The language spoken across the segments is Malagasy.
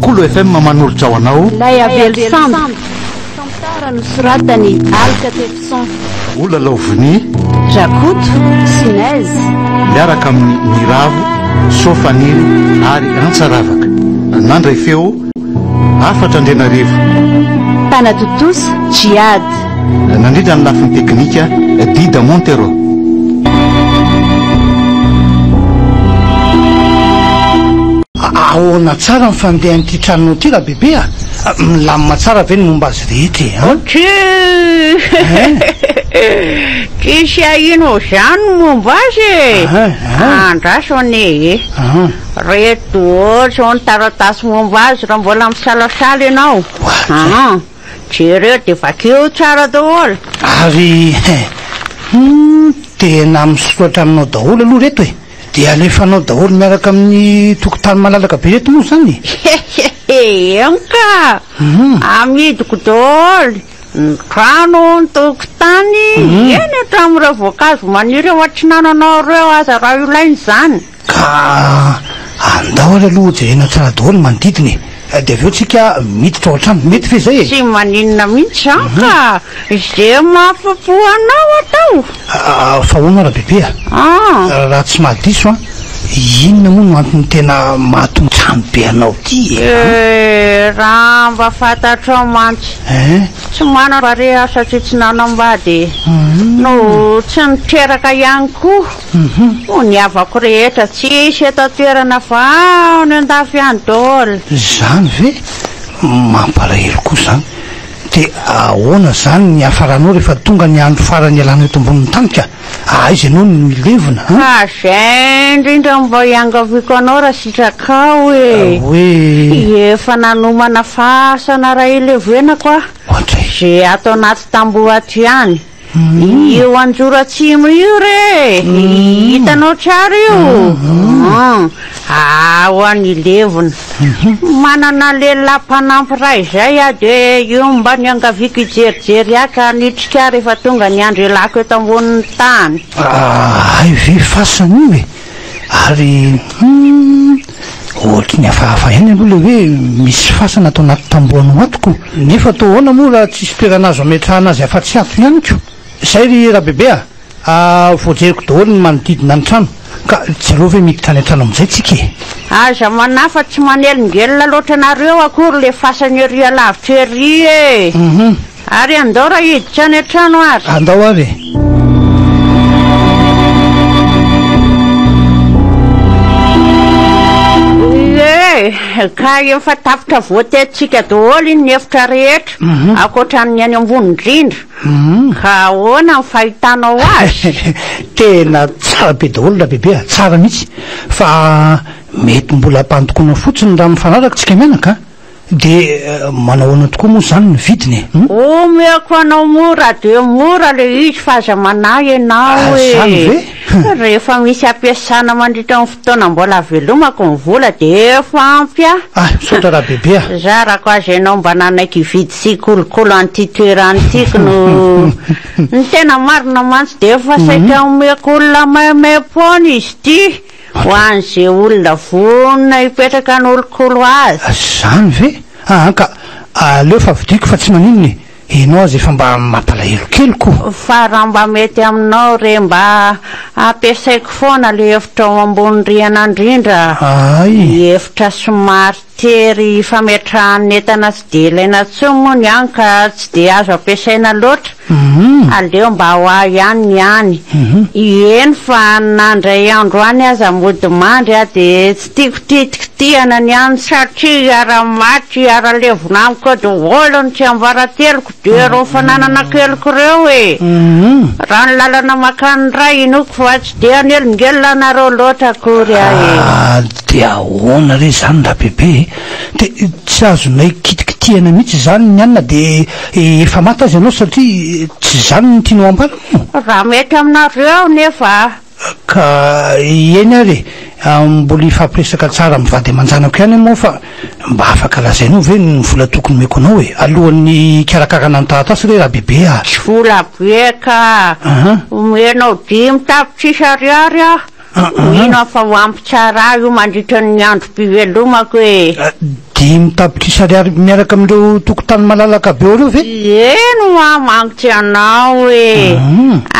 Kolo FM manolotra ho anao. Ilay avely sambo. Tantara nosoratan'i Alka Tefison. Ola Laovony. Rakoto sy Nez. Miaraka amin'ny Niravo, Soa Faniry ary Antsa Ravaka. Nandray feo hafatra Andrianarivo. Mpanatontosa Djihad. Nandrindra ny lafiny teknika Dida Montero. Ahoana tsara ny fandehan'ity tranonao ity Rabebe a? Milamina tsara ve ny momba azy rehetra e an? Tchuuuuh! Tsisy ahino izany ny momba azy e! Andraso anie e! Reto izao ny taratasy momba azy raha mbola misalasala ianao an! Jereo dia vakio tsara daholo! Ary he! Humm! Tena misoratra aminao daholo aloha reto e! Dia alefanao daholo miaraka amin'ny tokotany malalaka be reto moa izany e! Hehehe, eny ka! Amidiko daholo ny trano, ny tokotany, eny hatramin'ireo voankazo maniry eo an-tsinananao ireo aza raha ilaina izany. Ka andao ary aloha hojerena tsara daholo ny manodidina e! Dia avy eo tsika miditra ao an-trano. Mety ve izay e? Tsy maninona mihitsy izany ka! Izay mahafa-po anao atao! Fa ahoana Rabebeha? Raha tsy mahadiso an, inona moa no antony tena mahatontrano be anao ity e? Raha mba fantatrao mantsy, tsy manam-barea aho satria tsy nanambady e! No tsy niteraka ihany koa. Hoy ny havako rehetra, tsisy eto an-toerana fa any an-dafy any daholo. Izany ve? Mampalahelo koa izany. Dia ahoana izany ny hiafaranao rehefa tonga ny andro farany hialanao eto ambonin'ny tany ka? Ahaiza ianao no hilevina an? Ka izay indrindra no mba iangaviako anao raha sitrakao e! Hoe? Efa nanomana fasana iray hilevenako aho, Ohatr'ay? izay ato anaty tamboho ato ihany. Io anjoro atsimo io re hitanao tsara io aa ho an'i levona manana lehilahy mpanampy raha izay aho dia io mba niangaviako hijerijery ahy ka nitrika aho rehefa tonga ny andry lako eto ambonin'ny tany. Ahay ve fasana io e? Ary humm ohatry ny hafahafa ihany aloha ilay hoe misy fasana ato anaty tamboho anao ato ko! Nefa toa ahoana moa raha tsisy toerana azo ametrahana azy afa-tsy ato ihany ko! Izay ry Rabebe a! voajeriko daholo ny manodidina ny trano ka jereo ve miditra any an-trano amin'izay tsika e! Aza manafa tsy manelingelina loatra nareo akory le fasana ery alavitra ery e! Ary andao raha hiditra any an-trano ary. Andao ary e. Eh, ka efa tapitra voatetintsika daholo iny ny efitra rehetra, mhm. ankoatra ny any ambony indrindra. Mhm. Ka ahoana ny fahitanao azy? Tena tsara be daholo raha bebe, ah. tsara mihitsy. Fa mety mbola ampandokoana fotsiny raha mifanaraka tsika menaka. Ah. Dia manahoana tokoa moa izany ny vidiny e? Hum? Omeko anao mora dia mora le izy fa aza manahy ianao Ah, e! izany ve? Hum. Rehefa misy ampiasana mandritra ny fotoana mbola avelomako ny vola dia efa ampy ahy. Ah, misaotra raha bebe a! Zarako azy ianao mba nanaiky hividy sy hikolokolo an'ity toerana ity ko no Ny tena marina mantsy dia efa saika omeko olona maimaim-poana izy ity. Ho an'izay olona vonona hipetraka hanolokolo azy. Zany ve? Aa ka aleo fa vidiako fa tsy maninona e! Enao aza efa mba mampalahelo kely ko! Fa raha mba mety aminao re mba ampiasaiko foana le hevitrao ambony rihana ndrindra, ny hevitra somary. Tery fametrahan'ny entana tsy dia ilaina intsony moa ny any ka tsy dia azo ampiasaina loatra. Aleo mba ho ahy ihany ny any. Eny fa na indray andro any aza mody mandry aho dia tsy tiako titikitihana ny any. Satria hiara-maty hiara-levona amiko eo daholo ny tsiambarateloko. Dia reo fananana keliko reo e! Raha ny lalana makany Ray inoako fa tsy dia hanelingelina anareo loatra akory aho e! Ah dia ahoana re izany Rabebe e! Dia tsy azonay kitikitihana mihitsy izany ny anona dia efa maty aza ianao satria tsy izany no tianao hampanao? Raha mety aminareo aho nefa Ka eny ary e! Mbola hifampiresaka tsara amin'ny vady aman-janako ihany aho moa fa mba afaka lazainao ve ny vola tokony omeko anao e! Alohan'ny hikarakarana ny taratasy re Rabebe a! Tsy vola be ka! Omenao dimy tapitrisa ariary aho, mino aho fa ho ampy tsara ahy io mandritra ny androm-pivelomako e! Dimy tapitrisa ariary miaraka amin'ireo tokontany malalaka be ao ireo ve? Eny hoa mankitry anao e!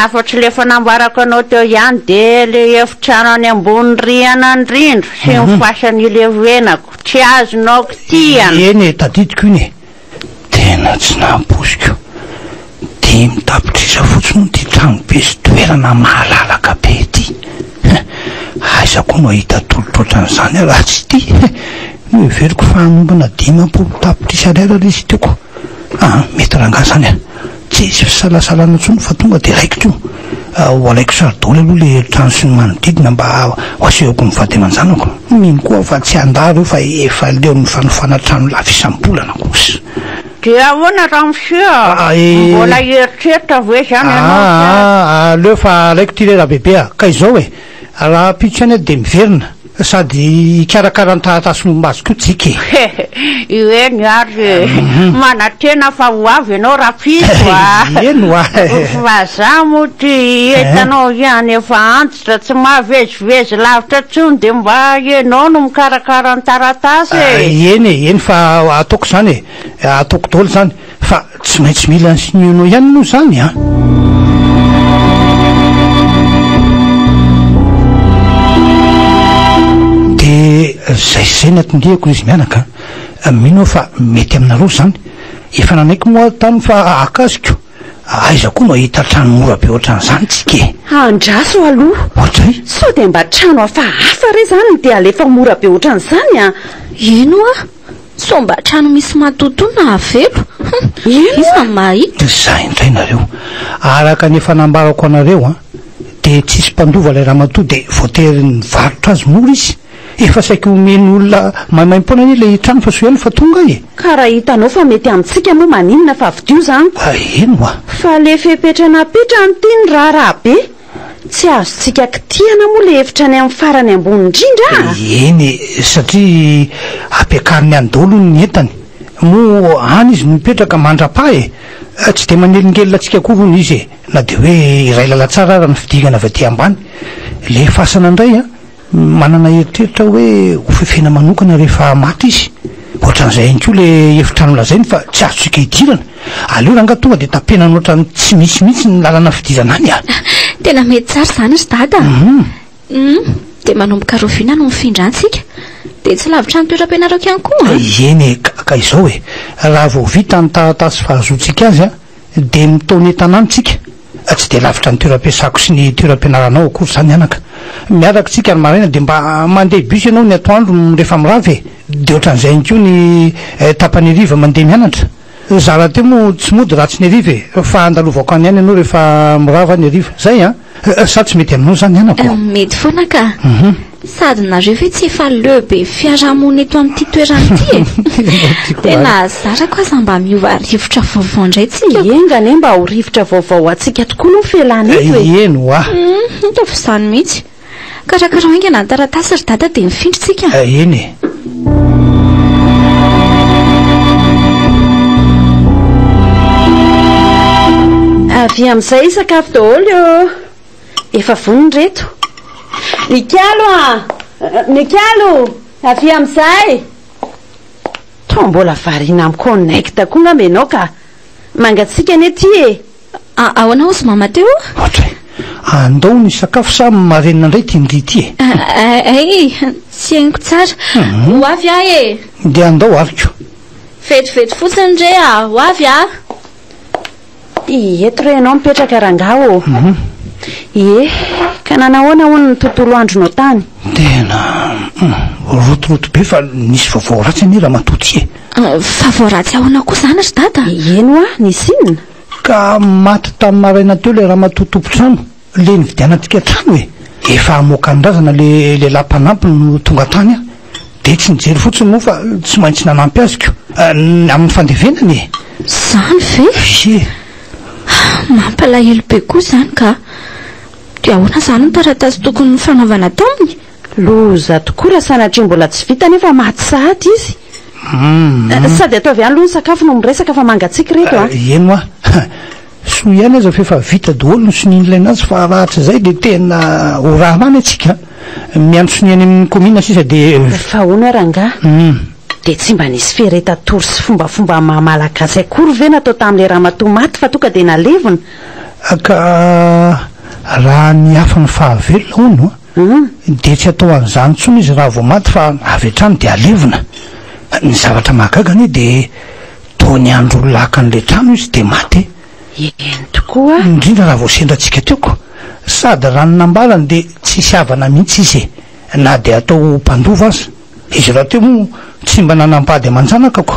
Afa-tsy ilay efa nambarako anao teo ihany dia ilay efitrano any ambony rihana an-drindro sy ny fasan'ilay venako tsy azonao kitihana. Eny e, tadidiko iny e! Tena tsy nampoiziko. Dimy tapitrisa fotsiny hono ity trano be sy toerana mahalalaka be ity. Aiza koa no hahita tolotro ohatran'izany aho raha tsy ity. Noheveriko fa hanombana dimampolo tapitrisa ariary ilay sitio-ko. Aa mety rangahy izany a! Tsy hisy fisalasalana intsony fa tonga dia alaiko teo. Ho alaiko sary daholo aloha ilay efitrano sy ny manodidina mba ho asehoko ny vady aman-janako. Mino koa aho fa tsy handà ireo fa efa leon'ny fanofana trano lafo isam-bolana kosa. Dia ahoana raha monsieur? Mbola hieritreritra ve izany ianao sa? Aa, aleo fa alaiko ity lehilahy bebe a! Ka izao e! Raha pitsy any dia miverina sady hikarakara ny taratasy momba azy koa JK. Ireny ary e! Manantena fa ho avy ianao rapitso a! Eny wa! Fa za moa ity hitanao ihany efa antitra tsy mahavezivezy lavitra intsony dia mba ianao no mikarakara ny taratasy e! Eny e! Eny fa ataoko izany e! Ataoko daholo izany! Fa tsy maintsy mila an'i Siniono ihany aloha izany an! Dia izay sy izay no atondihako ry izy mianaka an! Mino aho fa mety aminareo izany. Efa nanaiky moa aho tany fa hakasiko. Aiza koa no hahita trano mora be ohatran'izany tsika e! Andraso aloha! Ohatr'zay? Sao dia mba trano hafahafa re izany no dia alefa mora be ohatran'izany an! Eny ho'a! Sao mba trano misy matotoa no hahavelo? Humm! Iza no mahita? Zah indray nareo. Araka ny efa nambarako anareo an! Dia tsisy mpandova ilay ramatoa dia voatery nivarotra azy mora izy. Efa saiky omeny olona maimaimpoana anie ilay trano fa soa ihany fa tonga e! Ka raha hitanao fa mety amintsika moa maninona fa avidio zany ko! Eny oa! Fa le fepetra napetrany ty ny raharaha be! Tsy azontsika kitihana moa ilay hevitra any amin'ny farany ambony indrindra a! Eny e, satria ampiakariny any daholo hono ny entany. Moa any izy no mipetraka mandra-paha e! Tsy dia manelingelina antsika akory hono izy e! Na dia hoe iray lalan-tsara ara ny fidingana avy aty ambany. Ilay fasana indray an! Manana eritreritra aho hoe ho fefena manokana rehefa maty izy. Ohatran'izay ihany koa ilay hevitra nolazainy fa tsy azontsika idirana. Aleo rangah tonga dia tapenana ohatran'ny tsy misy mihitsy ny lalana fidirana any a! Tena mety tsara izany ry Dada a! Humm! Dia manomboka rahoviana no mifindra any isika? Dia tsy lavitra ny toeram-pianarako ihany koa an! Eny e! Ka izao e! Raha vao vita ny taratasy fahazoantsika azy an! dia mitaona entana any tsika, tsy dia lavitra ny toeram-piasako sy ny toeram-pianaranao akory izany anaka, miaraka tsika ny maraina dia mba mandeha bus ianao ny atoandro rehefa mirava e, dia ohatran'izay ihany koa ny tapany hariva mandeha mianatra, za rahateo moa tsy mody raha tsy ny hariva e, fa andalovako any ihany ianao rehefa mirava ny hariva, zay an! Sa tsy mety aminao zany anako? Hum, mety foana ka. Sady nareo ve tsy efa le be fiarahamonina eto amin'ity toerana ity e? Ianao ty koa Tena ary. zara ko aza mba miova rivotra vaovao ndray tsika. Enga anie mba ho rivotra vaovao ho antsika tokoa aloha ny fialana eto e. Ieny hoa. Hum, hita fa izany mihitsy. Karakarao haingana ny taratasy ry dada dia mifindra isika. Eh, eny e. Avy amin'izay sakafo daholo eo. Efa vonona reto. Mikalo a! Mikalo! Avy amin'izay! Toa mbola variana amiko en act koa ngamba ianao ka. Mangatsiaka anie ity e. Ah, ahoana hozy Mama Teo? Atra e! Andao ny sakafo sa marenina indray ity ndry ity e! Ah, ay, tsy henoko tsara. Ho avy aho e! Dia andao ariko. Vetivety fotsiny re a! Ho avy aho! Ie, eto re ianao mipetraka rangahy ô! Ie, ka nanahoana hono ny tontolo andronao tany? Tena rotoroto be fa nisy vaovao ratsy anie ramatoa ty e! Ah, vaovao ratsy ahoana koa izany ry Dada? Eny hoa, nisy inona? Ka maty tamin'ny maraina teo ilay ramatoa tompon-trano, ilay nividianantsika trano e! Efa hamoaka ny razana ilay lehilahy mpanampy no tonga tany aho, dia tsy nijery fotsiny moa fa tsy maintsy nanampy azy ko! amin'ny fandevenany e! Izany ve? Ye! Mampalahelo be koa izany ka! Dia ahoana izany ny taratasy tokony nifanaovana taminy? Loza tokoa raha sanatria mbola tsy vita nefa maty sahady izy. Sady ataovy ihany aloha ny sakafo no miresaka fa mangatsiaka ireto a! Eny hoa! Soa ihany aza fa efa vita daholo ny sonia nilaina azy fa rahatrizay dia tena ho raharaha ny antsika a! Miandry sonia any amin'ny kaominina sisa dia. Fa hono ary angaha dia tsy mba nisy feretatory sy fombafomba maha malagasy akory ve natao tamin'ilay ramatoa maty fa tonga dia nalevina? Ka raha ny hafa no fahavelona hono a! An, dia tsy atao an'izany intsony izy raha vao maty fa avy hatrany dia alevina. Ny zavatra mahagaga anie dia toa niandry ho lakan'ilay trano izy dia maty. Eny tokoa. Indrindra raha vao sendra antsika teo koa. Sady raha ny nambarany dia tsisy havana mihitsy izy e, na dia atao ho mpandova aza. Izy rahateo moa tsy mba nanam-pady aman-janaka ko.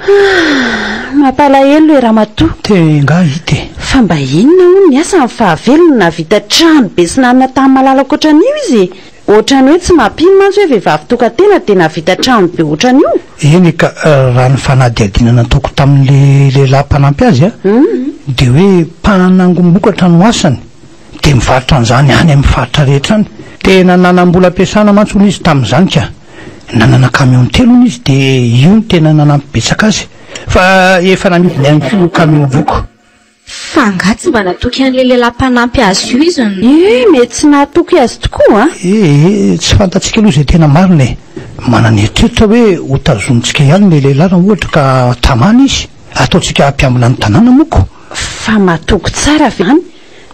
Ah! Mampalahelo e ramatoa. Te nga hita e. Fa mba inona hono ny asany fa avelo no nahavita trano be sy nanana tany malala ohatran'io izy e. Ohatran'ny hoe tsy mampino mantsy hoe vehivavy tokan-tena dia nahavita trano be ohatran'io. Eny ka, raha ny fanadihadiana nataoko tamin'ilay lehilahy mpanampy azy dia hoe mpanangom-bokatra no asany. dia mivarotra an'izany any amin'ny faritra rehetra any. Tena nanam-bola ampiasana mantsy hono izy tamin'izany ka. Nanana camion telo hono izy dia io no tena nanampy betsaka azy. Fa efa namidiny ihany koa io camion voky. Fa angaha tsy mba natoky an'ilay lehilahy mpanampy azy io izy no. Eh, mety tsy nahatoky azy tokoa an! Eh, tsy fantatsika aloha izay tena marina e. Manana eritreritra hoe hotazonintsika ihany ilay lehilahy raha ohatra ka tamana izy. Ataontsika mpiambina ny tanàna moa ko. Fa matoky tsara ve izany?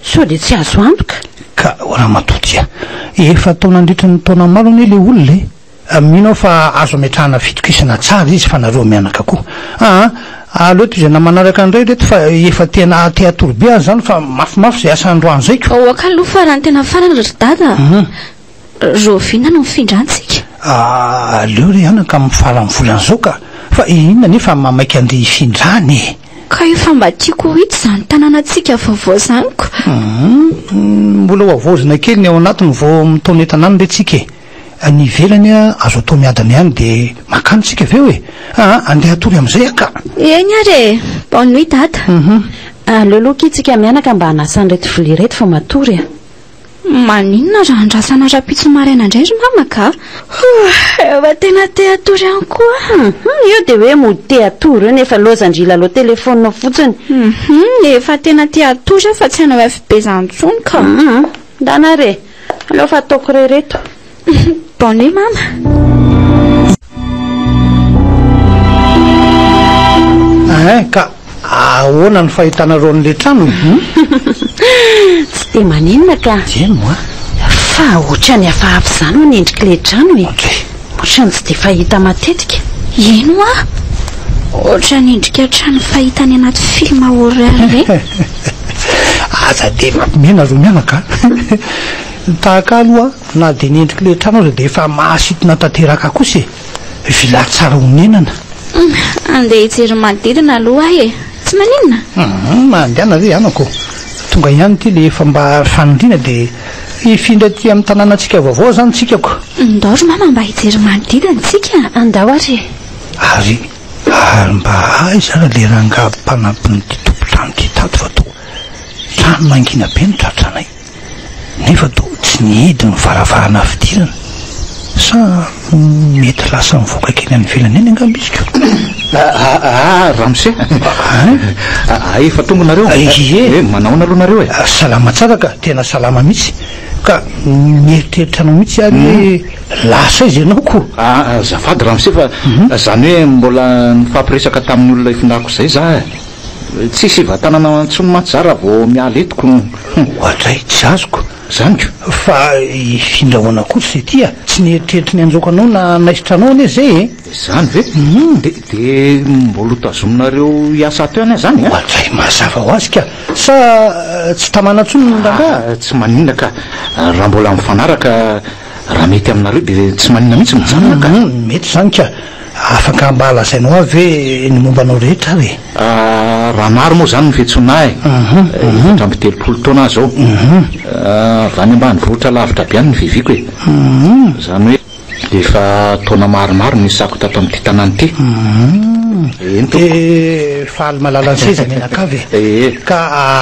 Sao dia tsy azo antoka? Ka o ramatoa tsia, efa tao nandritry ny taona maro anie ilay olona e! Mino aho fa azo ametrahana fitokisana tsara izy fa nareo mianaka koa aa! Aleo toy izay na manaraka indray ireto fa efa tena te hatory be aza izany fa mafimafy izay asa androany zay ko! Aoka aloha farany tena farany ry dada a! Rahoviana no hifindrantsika? Aah aleo re anaka amin'ny faran'ny volana izao ka! Fa inona anefa no maha-maika andeha hifindrany e? Ka efa mba tiako ho hita izany tanànantsika vaovao izany ko! Humm mbola ho havaozina kely ny ao anatiny vao mitaona entana any re tsika e! Ny ivelany azo atao miadana ihany dia mankany tsika avy eo e! Aa andeha hatory amin'izay aho ka! Eny ary e! Bonne nuit dada! Humm. Aleo aloha akia tsika mianaka mba hanasa an'ireto vilia ireto fa matory a! Maninona raha andrasana rapitso maraina indray ry mama ka? Hoo, efa tena te hatory ihany koa aho. Io dia hoe mody te hatory io nefa lozan-dry lalao telefonina fotsiny. Efa tena te hatory aho fa tsy hanao FB izany intsony ka. Ndana re, aleo fa ataoko re ireto. Bonne nuit mama. Hein, ka ahoana ny fahitanareo an'ilay trano e? Tsy dia maninona ka. Dia moa. Fa ohatran'ny hafahafa izany hono endrik'ilay trano e. Ohatran'ny tsy dia fahita matetika. Eny hoa. Ohatran'ny endrika trano fahita any anaty film horreur ve? Aza dia mampimehy nareo mianaka a. Tahaka aloha Na dia ny endrik'ilay trano aza dia efa mahasintona tanteraka kosa e! Villa tsara honenana. Andeha hijery ny manodidina aloha aho e! Tsy maninona? Hum, mandehana ve anako? Tonga ihany ity ilay efa mba fanindriana dia hifindra aty amin'ny tanànantsika vaovao izany tsikako. Ndao ry mama mba hijery ny manodidina tsika. Andao ary e! Ary, ary mba aiza ary ilay rangahy mpanampin'ity tompon-trano ity tato fa toa trano mangina be no tratranay? Nefa toa tsy nihidy ny varavarana fidirana. Sa mety lasa nivoaka kely any ivelany any angamba izy koa? Aah, ramose! Aah, efa tonga nareo? Ie! Eh, manahoana aloha nareo e? Salama tsara ka, tena salama mihitsy. Ka nieritreritra anao mihitsy aho hoe lasa aiza ianao koa? Aah, azafady ramose fa zany hoe mbola nifampiresaka tamin'ny olona ifindahako izay za e! Tsy sivatanana intsony mantsy za raha vao miala eto ko. Oadray, tsy azoko. Zany ko. Fa hifindra ahoana kosa izy ity a? Tsy neritreritry ny hanjaoka anao na hanaisotra anao anie izay e! Zany ve? De, de mbola ho tazominareo hiasa ato ihany zany a? Oadray, mazava ho azy ka! Sa tsy tamana intsony ny rangahy? Tsy maninona ka! Raha mbola mifanaraka Raha mety aminareo dia tsy maninona mihitsy mijanona ka. Mety izany ka. Afaka mba lazainao ahy ve ny momba anao rehetra ary e? Raha maro moa izany ny fiantsoana ahy, efatra amby telopolo taona aho izao. Avy any ambanivohitra lavitra be any ny vivieko e. Izany hoe efa taona maromaro no nisako tato amin'ity tanàna ity. Eny tompoko. Dia faly malalan'ny seza mianakavy e. Ka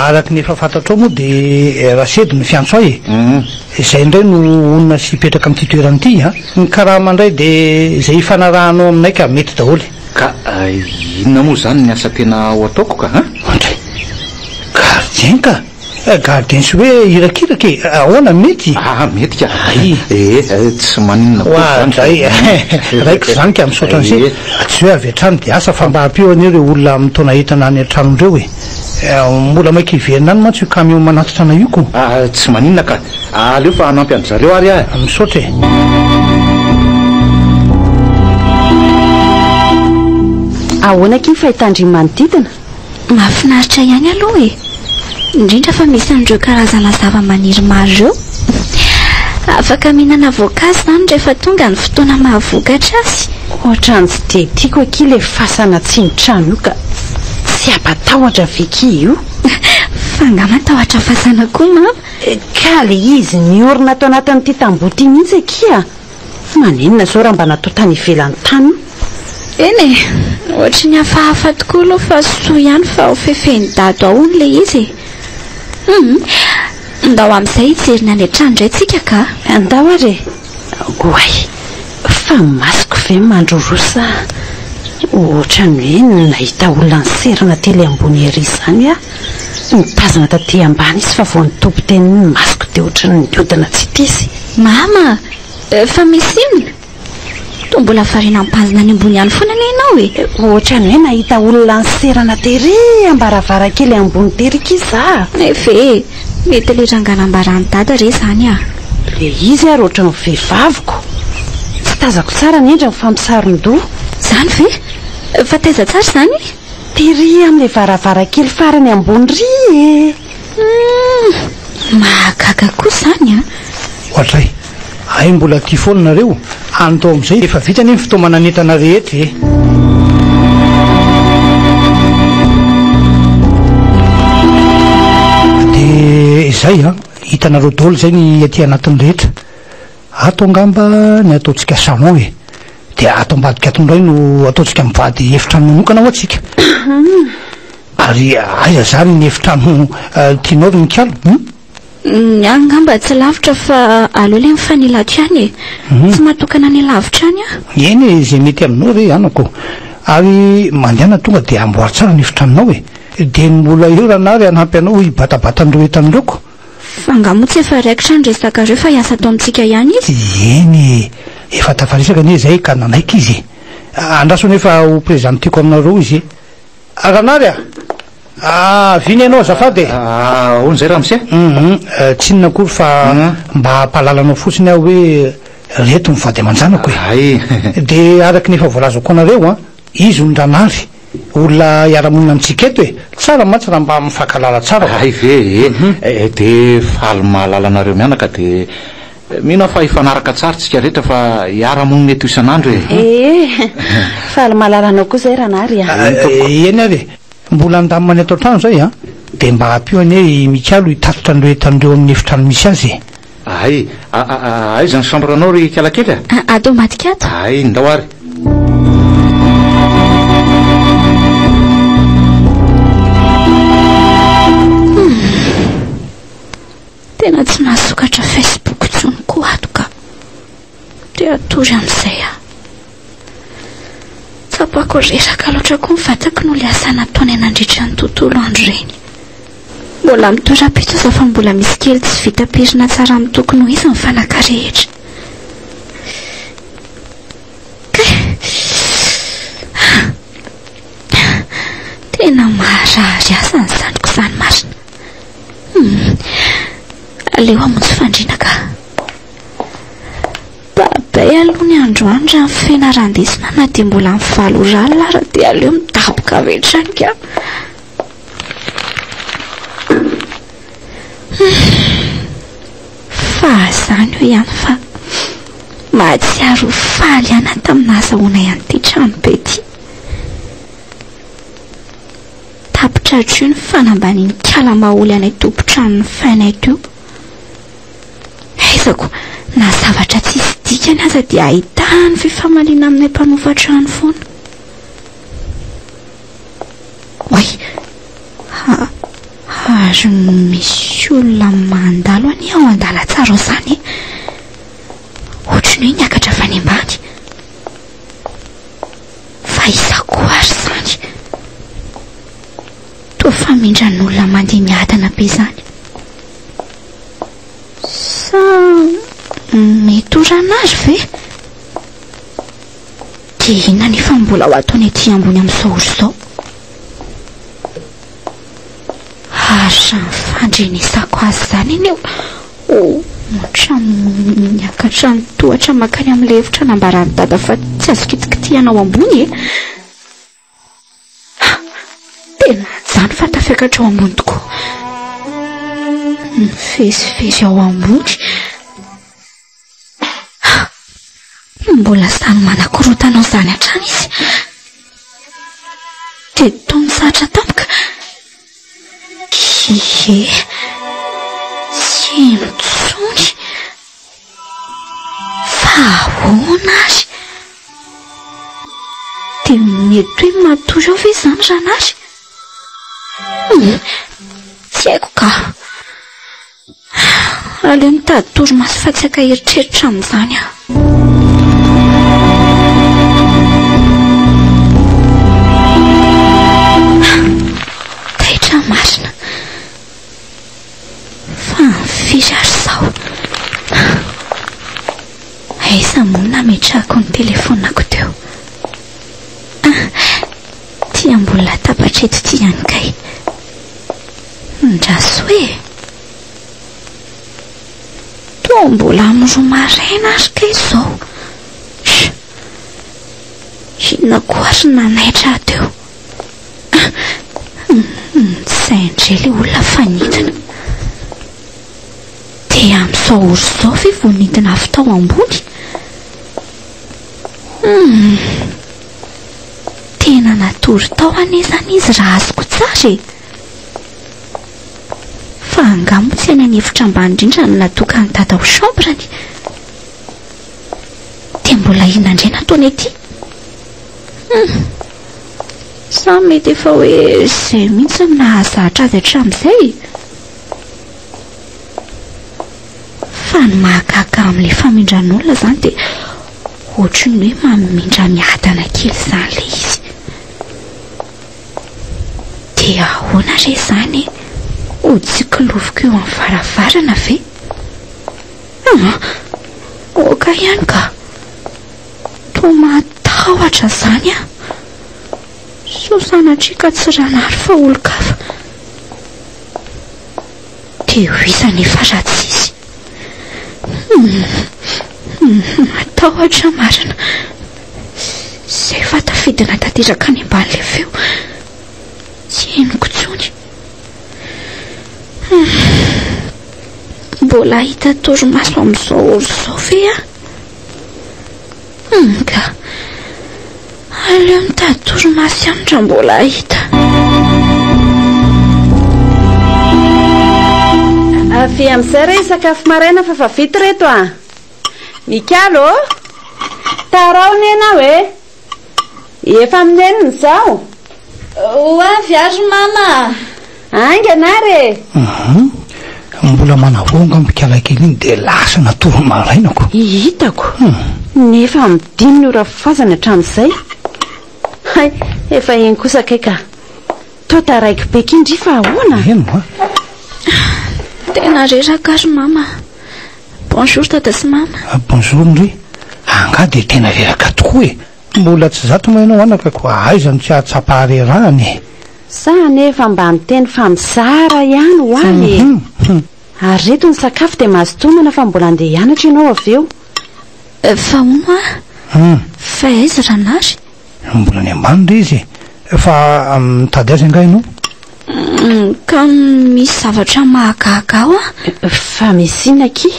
araka ny efa fantatrao moa dia Rasedy no fiantso ahy e. Izay indray no honina sy hipetraka amin'ity toerana ity an! Ny karama indray dia izay hifanarahanao aminay ka, mety daholo e! Ka inona moa izany ny asa tena ho ataoko ka an! Andray, gardien ka! Eh, gardien sy hoe irakiraka e! Ahoana, mety? Ah, mety ka! Ee, tsy maninona koa izany ka! Oadray e! Raiko izany ka, misaotra an'ise! Tsy hoe avy hatrany dia asa fa mba ampio anie ireo olona mitaona entana any an-tranony ireo e! Mbola maika hiverina any mantsy io camion manatitra anay io ko! Ah, tsy maninona ka! Aleo fa hanampy an-dry zareo ary aho e! Misaotra e! Ahoana akia ny fahitan-dry manodidina? Mahafinaritra ihany aloha e! Indrindra fa misy an'ireo karazana zavamaniry maro ireo. Afaka mihinana voankazo izany rehefa tonga ny fotoana mahavokatra azy. Ohatran'ny tsy dia tiako akia ilay fasana atsimon'ny trano io ka! Tsy hampatahotra ve ki io? Fa nga matahotra fasana koa mama? Ka le izy miorina ato anatin'ity tamboho ity mihitsy akia a! Fa manenina zao raha mba natao tany ivelany tany io? Eny e! Ohatry ny hafahafa tokoa aloha fa soa ihany fa ho fefen'i Dado ao hono le izy e! Hum! Ndao amin'izay hijery ny any an-trano indray tsika ka! Ndao ary e! Oay! Fa masoko ve mandroroa sa? Ohatran'ny hoe nahita olona niserana tely ambony ery izany aho. Nitazana taty ambany izy fa vao nitoby teny ny masoko dia ohatran'ny niodina tsy tia izy. Mama! Fa misy inona? Toa mbola variana mitazana any ambony any foana anie ianao e! Ohatran'ny hoe nahita olona niserana tery ambaravarankely ambony tery kisa aho. Nefa e! Mety le ranga nambaran'i dada re zany a! Le izy ary ohatran'ny vehivaviko. Tsy tazako tsara ny endriny fa misaron-doha. Zany ve? Fa taiza tsara izany? Tery amle varavarankely farany ambony ry e! Humm! Mahagaga kosa izany a! Ohatray! Hay mbola tia foana nareo any tao amizay efa vita anie ny fitaomana nentana rehetra e. izay a, hitanareo daholo izay ny aty anatin'ny rehetra ato angamba ny ataontsika salon e de ato ambadika ato indray no ataontsika mivady efitrano manokana ho atsika ary aiza zany ny efitrano eh, tianao ry mikalo um hmm? Ny ahy angamba tsy lavitra fa aleo ilay mifanila hatrany e. Tsy mahatokana ny lavitra any aho. Eny e, izay mety aminao re anako. Ary mandehana tonga dia amboary tsara ny efitranonao e. Dia ny mbola eo ranary hanampy anao hibatabatan-dro entan'ireko. Fa angaha moa tsy efa raikitra ny resakareo fa hiasa ato amintsika ihany izy? Eny e, efa tafaresaka anie izay ka nanaiky izy e. Andraso anefa ho prezantiako aminareo izy e. Ranary a! Ahavina ianao azafady e! Ahoana izay ramose? Hum tsy inona akory fa mba hampahalala anao fotsiny aho hoe reto ny vady aman-janako e! Hay! Dia araka ny efa voalazako anareo an! Izy hono Ranary, olona hiara-monina amintsika eto e! Tsara mantsy raha mba mifankahalala tsara! Hay ve e! Dia faly mahalala anareo mianaka dia. Mino aho fa hifanaraka tsara tsika rehetra fa hiara monina eto isan'andro e. Ee, faly mahalala anao koa zay Ranary a. Eny ary e, mbola handamina ny ato an-trano zay a. Dia mba ampio anie i Mikalo hitatitra an'ireo entan'ireo amin'ny efitrano misy azy e. Ay, aiza ny chambre nao ry Ikala kely a? Ato ambadika ato. Ay, ndao ary. Tena tsy mahasokatra Facebook intsony koa ato ka. Te hatory amin'izay aho. Tsapako reraka loatra koa ny vatako noho ilay asa nataony nandritra ny tontolo andro ireny. Mbola mitoera-pitso aza fa mbola misy kely tsy vita pirina tsara amin'ny tokony ho izy ny fanaka rehetra. Tena maharary asa ny zanako izany marina. Humm. Aleo hamonjy fandriana ka. Babay aloha ny androany raha ny fianarandesina na dia mbola amin'ny valo ora alina ara dia aleo midaboka avy hatrany ka. Fahazany eo ihany fa mahatsiaro ho faly ihany aho tamin'ny nahazahoanay an'ity tranobe ity. Tapitra hatreo ny fanambaniankala maholy anay tompon-tranon'ny Fainet io. Haizako, na zavatra tsisy dikany aza dia ahitany fifamaliana aminay mpanofa trano foana. Oay, ha, ha, ary misy olona mandalo anie ao an-dalantsara ao izany e. Ohatry ny hoe niakatra avy any ambany. Fa iza koa ary izany? Toa famindran'olona mandeha miadana be izany. Sa mety ho ranary ve? Dia inona anefa no mbola ho ataony aty ambony amin'izao ory izao? Hahatrany fandrenesako azy izany anie o! Ohatran'ny miakatra ny tohatra mankany amin'ny lefitra nambaran'i Dada fa tsy azo kitikitihana ao ambony e! Ha! Tena hajano fa tafiakatra ao ambony tokoa. Mivezivezy ao ambony. Mbola samy manakorontana ao izany hatrany izy. Dia toa mitsahatra tampoka. Ie, tsy heno intsony. Fa ahoana ary? Dia mety hoe matory ao ve izany Ranary? Tsy haiko ka. Aleo mitady torimaso fa tsy ankaeritreritra amin'izany aho. Taitra marina. Fa ny firy ary izao? Aiza moa no nametrahako ny telefonako teo? Ah, ity ambony latabatra eto ity ihany kay. Ndrasoa e! Toa mbola amin'ny roa maraina ary kay izao. Sh! Inona koa ary no nanaitra ahy teo? Tsy sahy indray ilay olona fa nidina. Dia amin'izao ora izao ve vao nidina avy tao ambony? Hum! Tena natory tao anie izany izy raha azoko tsara e! Fa angaha moa tsy any an efitra ambany indrindra no natokan'i dada ho chambre ny? Dia mbola inona indray no ataony aty? Hum. Sa mety efa hoe izay mihitsy no nahazatra azy hatramin'izay? Fa ny mahagaga amin'ilay famindran'olona izany dia ohatry ny hoe mamindra miadana kely izany ilay izy. Dia ahoana re izany? Ho tsikiloviko eo amin'ny varavarana ve? Ah, aoka ihany ka. Toa mahatahotra izany aho. Sao sanatria ka tsy ranary fa olon-kafa. Dia ho iza anefa raha tsy izy? Matahotra marina. Izay efa tafidina tanteraka any amban'ilay feo. Tsy henoko intsony. Mbola hahita torimaso amin'izao ora izao ve aho? Humm ka! Aleo mitady torimaso ihany raha mbola hahita. Avia amin'izay re hisakafo maraina fa fa vita ireto a! Mikalo ô! Taraho anie ianao e! Efa amin'ny enina izao. Ho avy aho ry mama a! Haingana ary e! Hum, mbola manavongo aho mikala kely iny dia lasa natory maraina ko. Hitako. Nefa amin'ny dimy ny ora fazany hatramin'izay. Hay, efa eny kosa kay ka. Toa taraiky be kin dry fa ahoana? Eny hoa. Tena reraka aho ry mama. Bonjour tata sy mama. Bonjour ndry. Angaha dia tena reraka tokoa e! Mbola tsy zato moa ianao anaka koa aiza no tsy hahatsapa harerahana e! Za anefa mba niteny fa mizara ihany ho ahy e! Ary reto ny sakafo dia mazotoa homana fa mbola handeha hianatra ianao avy eo. Fa hono hoa? Fa aiza Ranary? Mbola any ambany re izy e! Fa mitady azy angaha ianao? Ka misy zavatra mahagaga ao an! Fa misy inona akia?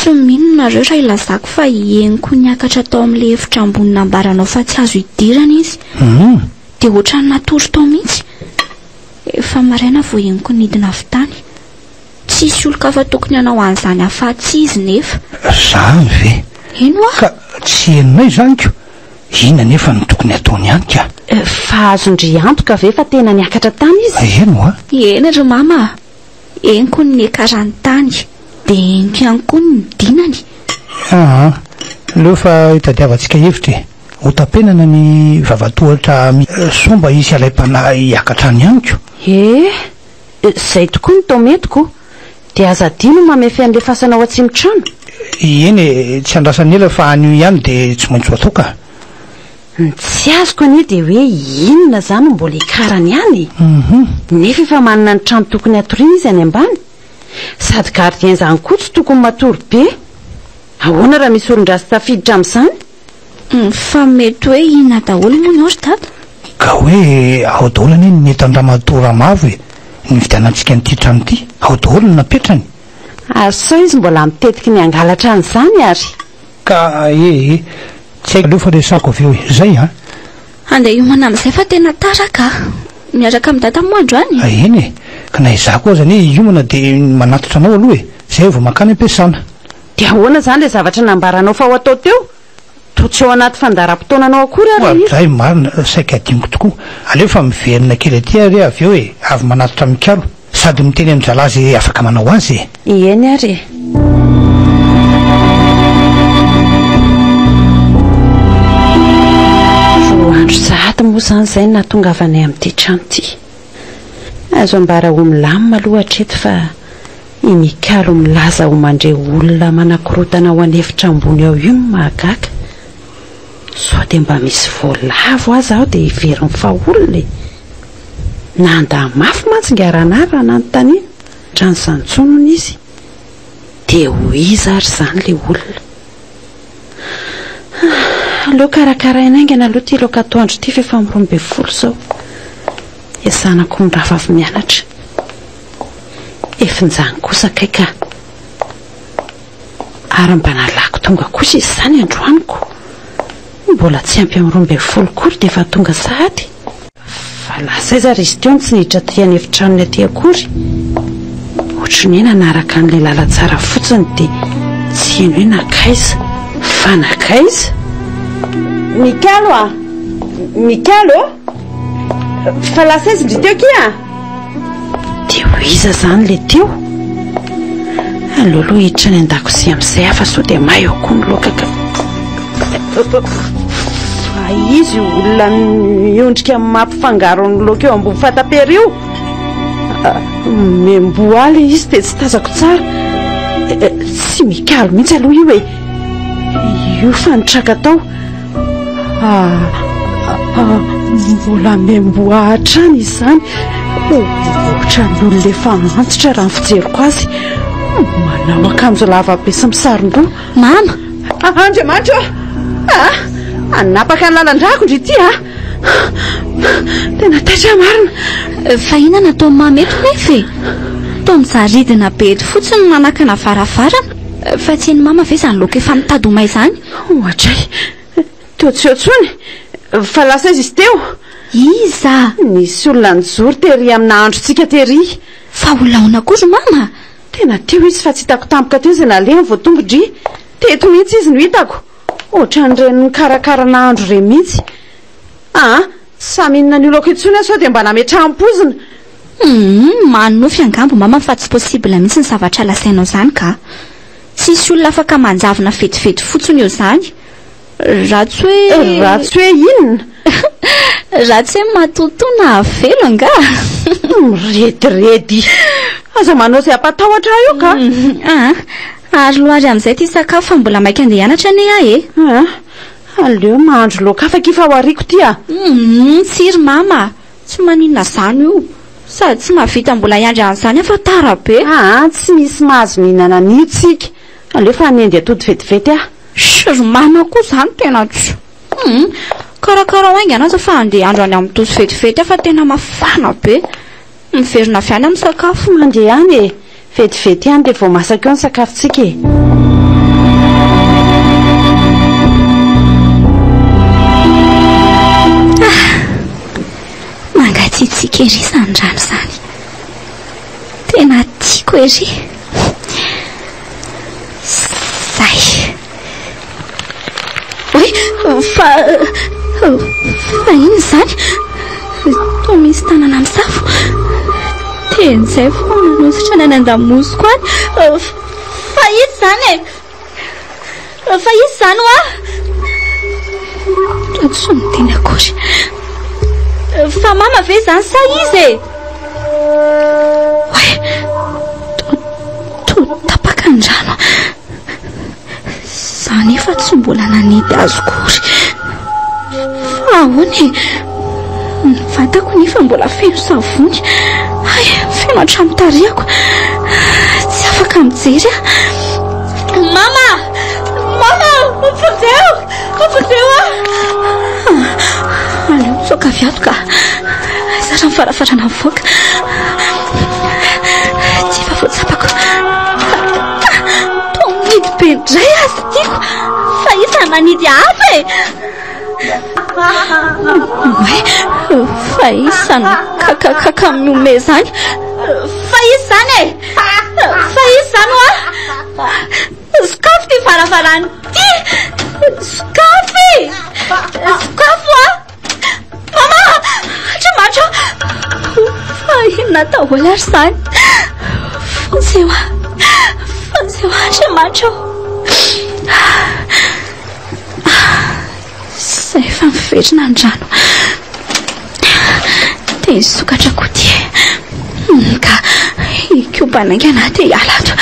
Tsy mino nareo raha ilazako fa henoko niakatra tao amin'ilay efitra ambony nambaranao fa tsy azo idirana izy. Hum. Dia ohatran'ny natory tao mihitsy. Efa maraina vao henoko nidina avy tany. Tsisy olon-kafa tokony hanao an'izany afa-tsy izy nefa. Zany ve? Eny hoa. Ka tsy henonay izany ko. Inona anefa no tokony hataony any ka? Fa azon-dry antoka ve fa tena niakatra tany izy? Eny hoa. Eny ry mama a. Henoko ny niakarany tany. Dia henoko ihany koa ny nidinany. Aa! Leo fa itadiavantsika hevitra e! Hotapenana ny vavatohatra amin soa mba hisy alaim-panahy hiakatra any amiko. Ee! Izay tokoa ny tao metiko. Dia aza adino ny mamefy an'ilay fasana ao atsimo-trano. Eny e! Tsy andrasan'ela fa anio ihany dia tsy maintsy ho atao ka! Ny tsy azoko anie dia hoe inona izany no mbola ikarany ihany e? Nefa efa manana ny trano tokony hatoriana izy any ambany. Sady gardien izany koa tsy tokony matory be. Ahoana raha misy olon-dratsy tafiditra amin'izany? Fa mety hoe inona daholo moa ny ao ry Dada? Ka hoe ao daholo anie ny entan-dramatoa Ramavo e! Nividianantsika an'ity trano ity. Ao daholo no napetrany. Ary sao izy mbola mitetiky ny hangalatra an'izany ary? Ka ee ee. Tsy haiko aloha fa resahako avy eo e. Zay an. Handeha hiomana amin'izay fa tena tara ka. Miaraka amin'i Dada moa androany? A eny e. Ka na izaho koa aza anie hiomana dia manatitra anao aloha e. Izay aho vao mankany am-piasana. Dia ahoana izany ilay zavatra nambaranao fa ho atao teo? Toa tsy ao anaty fandaharam-potoananao akory ary ilay izy. Oadray, marina, saika adinoko tokoa. Aleo fa miverina kely aty ary avy eo e. Avy manatitra mikalo. Sady miteny amin'ny zalahy izay afaka manao azy e! Ieny ary e! Roa andro sahady moa izany izay no nahatongavanay amin'ity trano ity. Azo ambara ho milamina aloha hatreto fa i Mikalo milaza ho mandre olona manakorotana ao an'efitra ambony ao io no mahagaga. Sao dia mba misy voalavo aza ao dia heverin'ny fa olona e! Nanda mafy mantsy ingahy Ranary raha nanontaniana raha nisantsonona izy. Dia ho iza ary izany ilay olona? Aleo karakaraina haingana aloha ity loka atoandro ity fa efa amin'ny roa ambin'ny folo izao. Esanako mirava avy mianatra. Efinjany kosa kay ka. Ary mba nalako tonga kosa izy izany androany ko. Mbola tsy ampy amin'ny roa ambin'ny folo koa ry dia efa tonga sahady. Fa lasa aiza ry Stion tsy niditra aty an'efitranony aty akory? Ohatry ny hoe nanaraka an'ilay lalantsara fotsiny dia tsy heno hoe nankaiza? Fa nankaiza? Mikalo a! Mikalo ô! Fa lasa aiza indry teo kia? Dia ho iza zany le teo? Aleo aloha hiditra any an-dakozia amin'izay aho fa sao dia may eo koa ny loaka ka. Fa izy io olona miondrika mampifangaro ny loaka eo ambony fatapery io. Ah, Memboa le izy dia tsy tazako tsara. Eh, eh, Tsy mikalo mihitsy aloha io e. Io fa nitraka tao. Mbola miamboha hatrany izany. Ohatran'olona efa antitra raha ny fijeriko azy. Manao akanjo lavabe sy misaron-doha. Mama! Andriamanitra ô! Hanapaka ny lalan-drako ndry ity a! Tena taitra marina. Fa inona no ataon'i Mama eto nefa e? Toa mijaridina be eto fotsiny manakana varavarana. Fa tsy an'i Mama ve izany loka efa mitady ho may izany? Ohatray! Toa tsy eo intsony! Fa lasa aiza izy teo? Iza? Nisy olona nijoro tery amin'ny nahandrontsika tery. Fa ho laona akory ry Mama? Tena teo izy fa tsy hitako tampoka teo izay nalehany vao tonga ndry. Teto mihitsy izy no hitako. Ohatran'ireny mikarakara nahandro ireny mihitsy. Aa! Tsy sahy mihinana an'io laoka io intsony aho sao dia mba nametraham-poizina. Hum! Manonofy angamba Mama fa tsy possible mihitsy ny zavatra lasainao izany kah! Tsisy olona afaka manjavona vetivety fotsiny eo zany. Ratsy hoe. Ratsy hoe inona? Ratsy hoe matotoa na avelo angaha? Mirediredy. Aza manao izay hampatahotra ahy eo ka. Aa. Ary lohary amin'izay ity sakafo fa mbola maika andeha hianatra anie aho e. Aa. Aleo mahandro laoka hafa akia fa ho ariako ity a. Hum, tsiry mama. Tsy maninona zany io. Sady tsy mahavita mbola hiandry an'izany aho fa tara be. Aa tsy misy mahazo mihinana an'io tsika. Aleo efa hanendy atody vetivety aho. Shh ry mama koa zany tena tsy. Humm karakarao haingana aza fa andeha handro any amin'ny tosi vetivety aho fa tena mafana be. Miverina avy any amin'ny sakafo. Mandeha any e. Vetivety ihany dia vao masaka eo ny sakafontsika e! Mangatsiatsiaka ery izany rano izany. Tena tiako ery. Izay. Hoe, fa... fa inona izany? Toa misy tanana misafo. Ten'izay vao nanositra ny any an-damosiko any. Fa izy izany e! Fa izy izany hoa! Toa tsy niteny akory. Fa mama ve izany sa izy e? Hoe, toa tapaka ny rano. Za nefa tsy mbola nanety azy kory. Fa ahoana e? Ny vatako nefa mbola feno savony. Hay, feno hatramin'ny tarehako. Tsy afaka mijery aho. Mama! Mama! Vonjeo! Ampoteo ah! Aleo misoka avy ato ka. Zatra ny farafarana mivoaka. Tsy efa voatsapako. Toa mihidy be indray azy tiako. Fa iza manidy hafa e! Oe, fa iza no kakakaka miome zany? Fa iza zany e? Fa iza zany oa? Sokafy ty varavarana ty! Sokafy! Sokafy wa! Mama! Andriamanitra! Fa inona atao hola ry izany? Vonjeo a! Vonjeo Andriamanitra o! Zay efa miverina ny rano dia hisokatra koa ity e. Humm ka hikobana haingana dia hiala ato.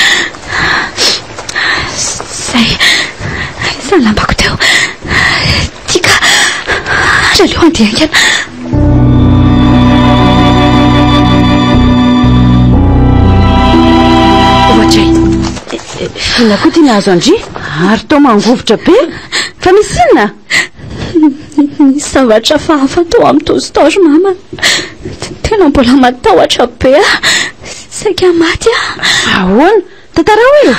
Zay, aiza ny lambako teo? Ity ka, ary aleo handeha haingana. Ohatry ny. Inona koa ity nahazo an-dry? Ary toa mangovitra be. Fa misy inona? Nisy zavatra hafahafa tao amin'ny toy store mama. Tena mbola matahotra be aho. Saika maty aho. Ahoana? Tantarao e!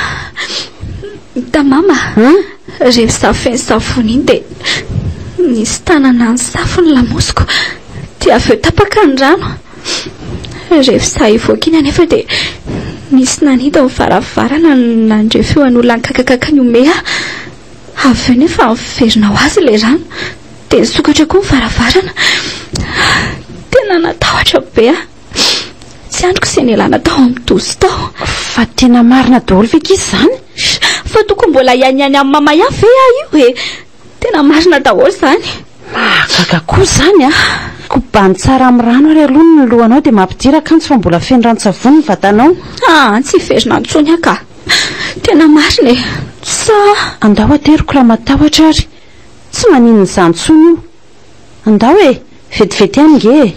Hita mama, rehefa za feno savony iny dia nisy tanana nisafo ny lamosiko. Dia avy eo tapaka ny rano. Rehefa izaho hivoaka iny anefa dia nisy nanita ny varavarana nandre feon'olona nikakakaka nihomehy ahy. Avy eo nefa niverina ho azy ilay rano dia nisokatra koa ny varavarana. Tena natahotra be aho. Tsy andriko izay nialana tao amin'ny dozy tao. Fa tena marina daholo ve akia izany? Fa tokony mbola hianiany amin'i Mama ihany ve aho io e? Tena marina daholo zany. Mahagaga koa zany a! Kobano tsara amin'ny rano ary aloha ny lohanao dia mampidira kanjo fa mbola feno ranon-tsavony ny vatanao. Aa tsy hiverina intsony aho ka! Tena marina e! Sa. Andao ateriko raha matahotra ary. Tsy maninona izany intsony io. Andao e! Vetivety ihany nge e!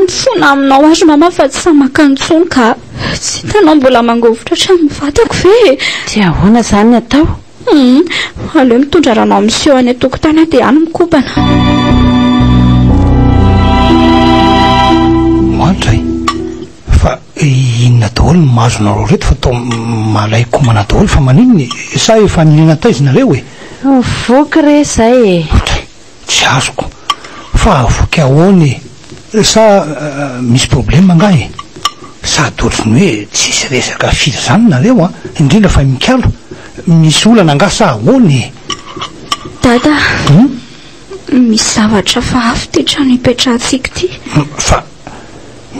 Mifona aminao ary mama fa tsy sahy makany intsony ka! Tsy hitanao mbola mangovitra hatramin'ny vatako ve e! Dia ahoana izany ny atao? Aleo mitondra rano amin'ny siô any an-tokotany aho dia any mikopana. Mantra e! Fa inona daholo ny mahazo nareo reto fa toa malay komana daholo fa maninona e? Sa efa nihena taiza nareo e? Voky re zay e! Otry, tsy azoko fa voky ahoana e? Sa misy problème angaha e? Sady ohatry ny hoe tsisy resaka firy zany nareo an! Indrindra fa i Mikalo, misy olana angaha sa ahoana e? Dada! Misy zavatra hafahafa ity trano ipetrahantsika ity. Fa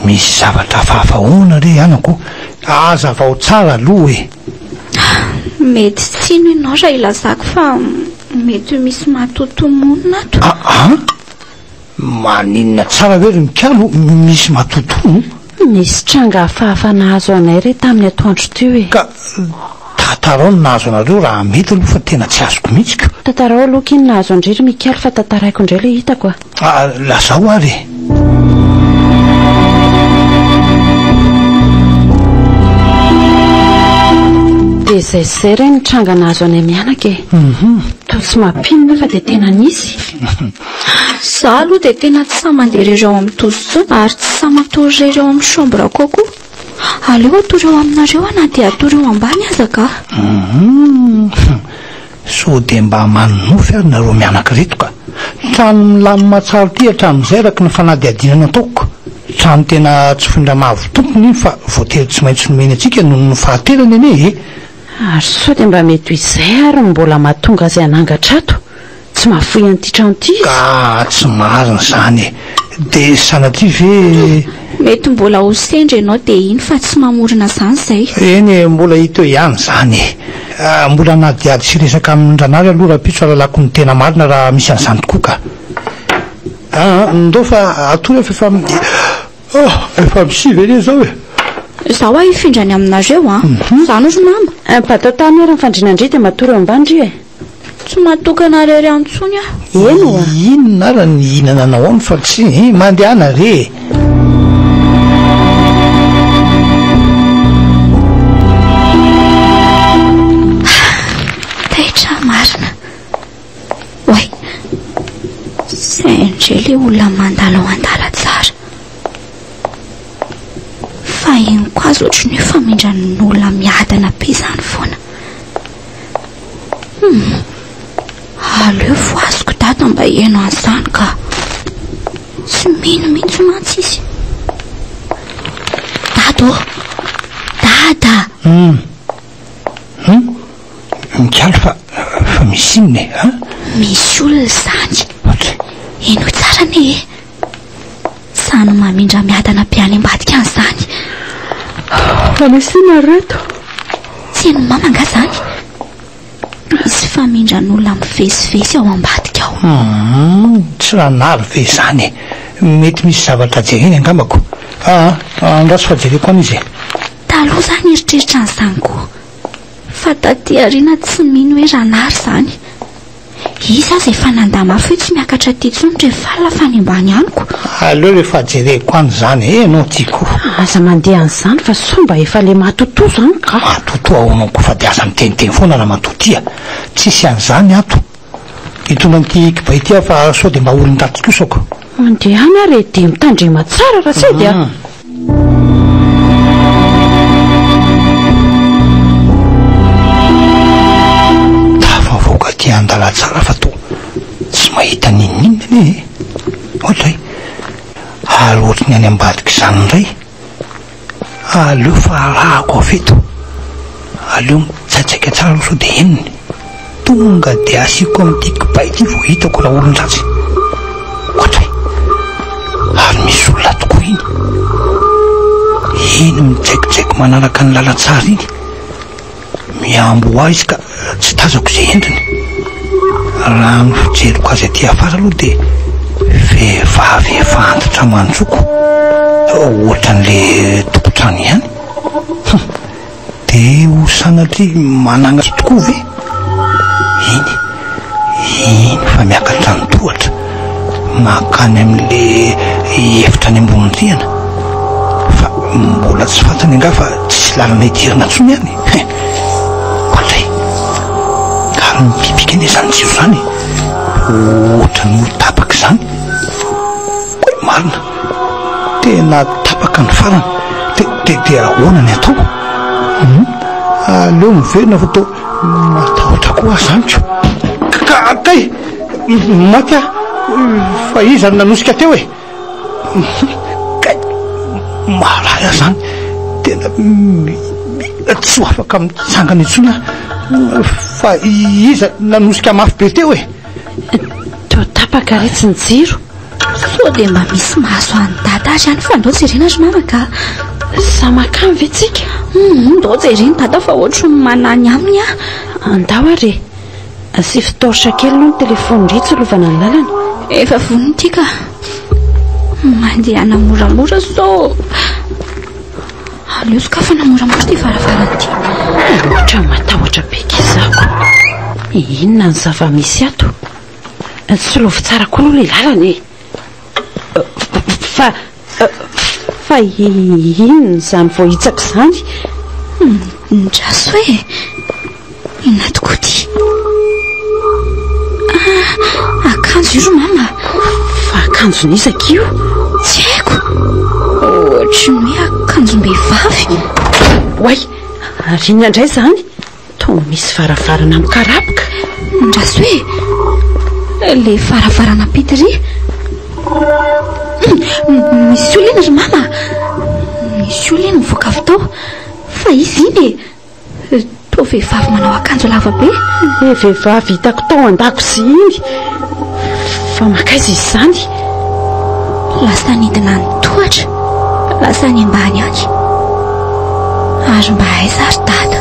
misy zavatra hafahafa ahoana re anako? Hazavao tsara aloha e! Mety tsy hino ianao raha ilazako fa mety ho misy matotoa monina ato. Aa! Maninona tsara ve ry Mikalo? Misy matotoa? Nisy tranga hafahafa nahazo anay re tamin'ny atoandro teo e! Ka tantarao ny nahazo anareo raha mety aloha fa tena tsy azoko mihitsy ka! Tantarao aloha akia ny nahazo an-dry ry Mikaly fa tantaraiko indray ilay hitako a! Ah, lazao ary e! Dia izay sy izay re ny tranga nahazo anay mianaka e! Toa tsy mampino nefa dia tena nisy! Za aloha dia tena tsy sahy mandeha irery ao amin'ny douche intsony ary tsy sahy matory irery ao amin'ny chambre ko aho koa. Aleo hatory ao aminareo aho na dia hatory eo ambany aza angaha. Hum. Sao dia mba manonofy ary nareo mianaka ireto ka. Trano milamina tsara ity hatramin'izay araka ny fanadihadiana nataoko. Trano tena tsy foindraha mahavoa tompony iny fa voatery tsy maintsy nomeny antsika noho ny fahaterany anie e. Ary sao dia mba mety ho izay ary no mbola mahatonga azy hanangatra ato. Tsy mahafoy an'ity trano ity izy. Ka tsy marina izany e! Dia sanatria ve. Mety mbola ho sendra ianao dia iny fa tsy mamorona izany izay. Eny e, mbola hita eo ihany izany e! Mbola hanadihady sy hiresaka amin'ny ranary aloha rahampitso hahalalako ny tena marina raha misy an'izany tokoa ka. Aa, ndao fa atory aho fa efa mi. Ah! Efa mi-si ve anie izao e! Izaho hoa hifindra any aminareo an! Izany ry mama. Impatata miara-mifandrina ndry dia matory eo ambany ry e! Tsy matokana rery antsony aho. Eny oa. Inona ara ny hihinananao any fa tsy eh, mandehana re eh. Taitra marina. Oay. Sendra ilay olona mandalo ao an-dalantsara. Fahiny koa aza ohatran'ny hoe famindran'ny olona miadana be izany foana. Humm. Aleo voaziko dada mba hihaino an'izany ka. Tsy mino mihitsy mantsy izy. Dada ô. Dada. Humm. Humm. Mikaly fa fa misy inona e? Misy olona izany. Enoy tsara anie e. Sa ny mamindra miadana be any ambadika any izany? Famesinareo eto. Tsy hain'i Mama angaha izany? Misy famindran'olona mivezivezy ao ambadika ao. Hum, tsy nanary ve izany e? Mety misy zavatra jereny angambako. Aa, andraso fa jereko any izy e. Taloha izaho nieritreritra an'izany koa. Fa taty aoriana tsy mino hoe ranary izany. Iza aza efa nanda mafy hoe tsy miakatra aty intsony rehefa alina fa any ambany any ko. Aleo rehefa jereko any izany eh no tiako. Aza mandeha an'izany fa sao mba efa le matotoa izany ka. Matotoa ahoana ko fa de aza miteniteny foana raha matotoa ia. Tsisy an'izany ato. Hitondra an'ity kibay ity aho fa sao de mba olon-dratsy kosa ko. Mandehana ary e dia mitandrema tsara raha tsy dia. Tafavoaka aty an-dalantsara fa toa tsy mahita n'inon'inona anie e! Ohatra hoe alo ohatry ny any ambadika izany indray. Aleo fa arahako avy eto. Aleo mitsaitsaika tsara aloha sao dia henony. Tonga dia asiako amin'ity kibay ity vao hitako ilay olon-dratsy. Ohatra e! Ary misy olona tokoa iny. Iny midraikidraiky manaraka ny lalantsara iny. Mihambo ho ahy izy ka tsy tazako izay endriny. Raha ny fijeriko azy aty afara aloha dia vehivavy efa antitra manjoko. Ohatra an'ilay tompon-trano ihany. Hum! Dia ho sanatria manana azy tokoa ve? Iny, iny fa miakatra ny tohatra, mankany amin'ilay efitra any ambony rihana. Fa mbola tsy fantany angaha fa tsisy lalana hidirana intsony any e! Hein! Koa indray, ary mipipika anie izany jiro izany e! Ohatran'ny ho tapaka izany. Marina. Tena tapaka ny farany. Dia dia ahoana ny atao? Hum? Aleo miverina fa to matahotra koa aho zany ko. Ka kay! Maty aho fa iza no nanosika teo e? Kay! Mahalay aho zany. Tena tsy ho afaka mitsangana intsony aho fa iza nanosika mafy be teo e? Toa tapaka re tsy ny jiro. Sao dia mba misy mahazoan'i dada ary any fa ndao jerena ry mama ka. Sa makany ve tsika? Hum, ndao jerena dada fa ohatry ny manany aminy ah. Andao ary e. Asivy torche kely aloha ny telefaony ndry hitsilovana ny lalana. Efa vonona ity ka. Mandehana moramora sao aleo sokafana moramora ity varavarana ity. Ohatran'ny matahotra be kizako. Inona ny zava-misy ato? Solovo tsara koa aloha ilay lalana e! Fa, fa inona izany vao hitsako izany? Midraso e! Inona tokoa ity? Ah, akanjo io ry mama. Fa akanjo nizaka io? Tsy haiko. Ohatry ny hoe akanjom-behivavy. Oay, ary inona indray izany? Toa misy varavarana mikarapoka. Ndrasoe! Ilay varavarana Pitri. Misy olona iny ry mama. Misy olona iny mivoaka avy tao. Fa izy iny e. Toa vehivavy manao akanjo lava be. Ilay vehivavy hitako tao an-dakozia iny. Fa mankaiza izy izany? Lasa nidina ny tohatra, lasa any ambany any. Ary mba aiza ry dada?